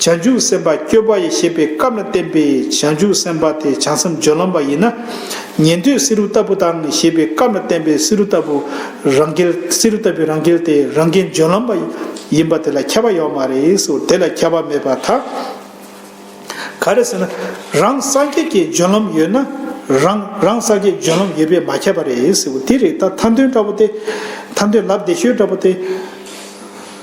བྱང་ཆུབ་སེམས་དཔའ་སྐྱོ་བ་ཡི་ཞེས་པའི་སྐབས་ན་བསྟན་པའི་བྱང་ཆུབ་སེམས་དཔའ་དེ་བྱང་སེམས་སྦྱོར་ལམ་པ་ཡིན་ན། ཉན་ཐོས་བསེ་རུ་ལྟ་བུ་དང་ཞེས་པའི་སྐབས་ན་བསྟན་པའི་བསེ་རུ་ལྟ་བུ་རང་རྒྱལ་བསེ་རུ་ལྟ་བུའི་རང་རྒྱལ་དེ་རང་རྒྱལ་སྦྱོར་ལམ་པ་ཡིན་པ་དེ་ལ་ཁྱབ་པ་ཡོད་མ་རེད་ཟེར་བ་དེ་ལ་ཁྱབ་པ་མེད་པར་ཐལ། ག་རེ་ཟེར་ན་རང་སངས་རྒྱས་ཀྱི་སྦྱོར་ལམ་ཡོད་ན་རང་རང་སངས་རྒྱས་སྦྱོར་ལམ་ཡོད་པས་མ་ཁྱབ་པ་རེད་ཟེར་བ་དེ་རིགས་ད་མཐའ་འདོན་འདྲ་བོ་སྟེ། མཐའ་འདོན་ལབ་བདེ་ཤོས་འདྲ་བོ་སྟེ།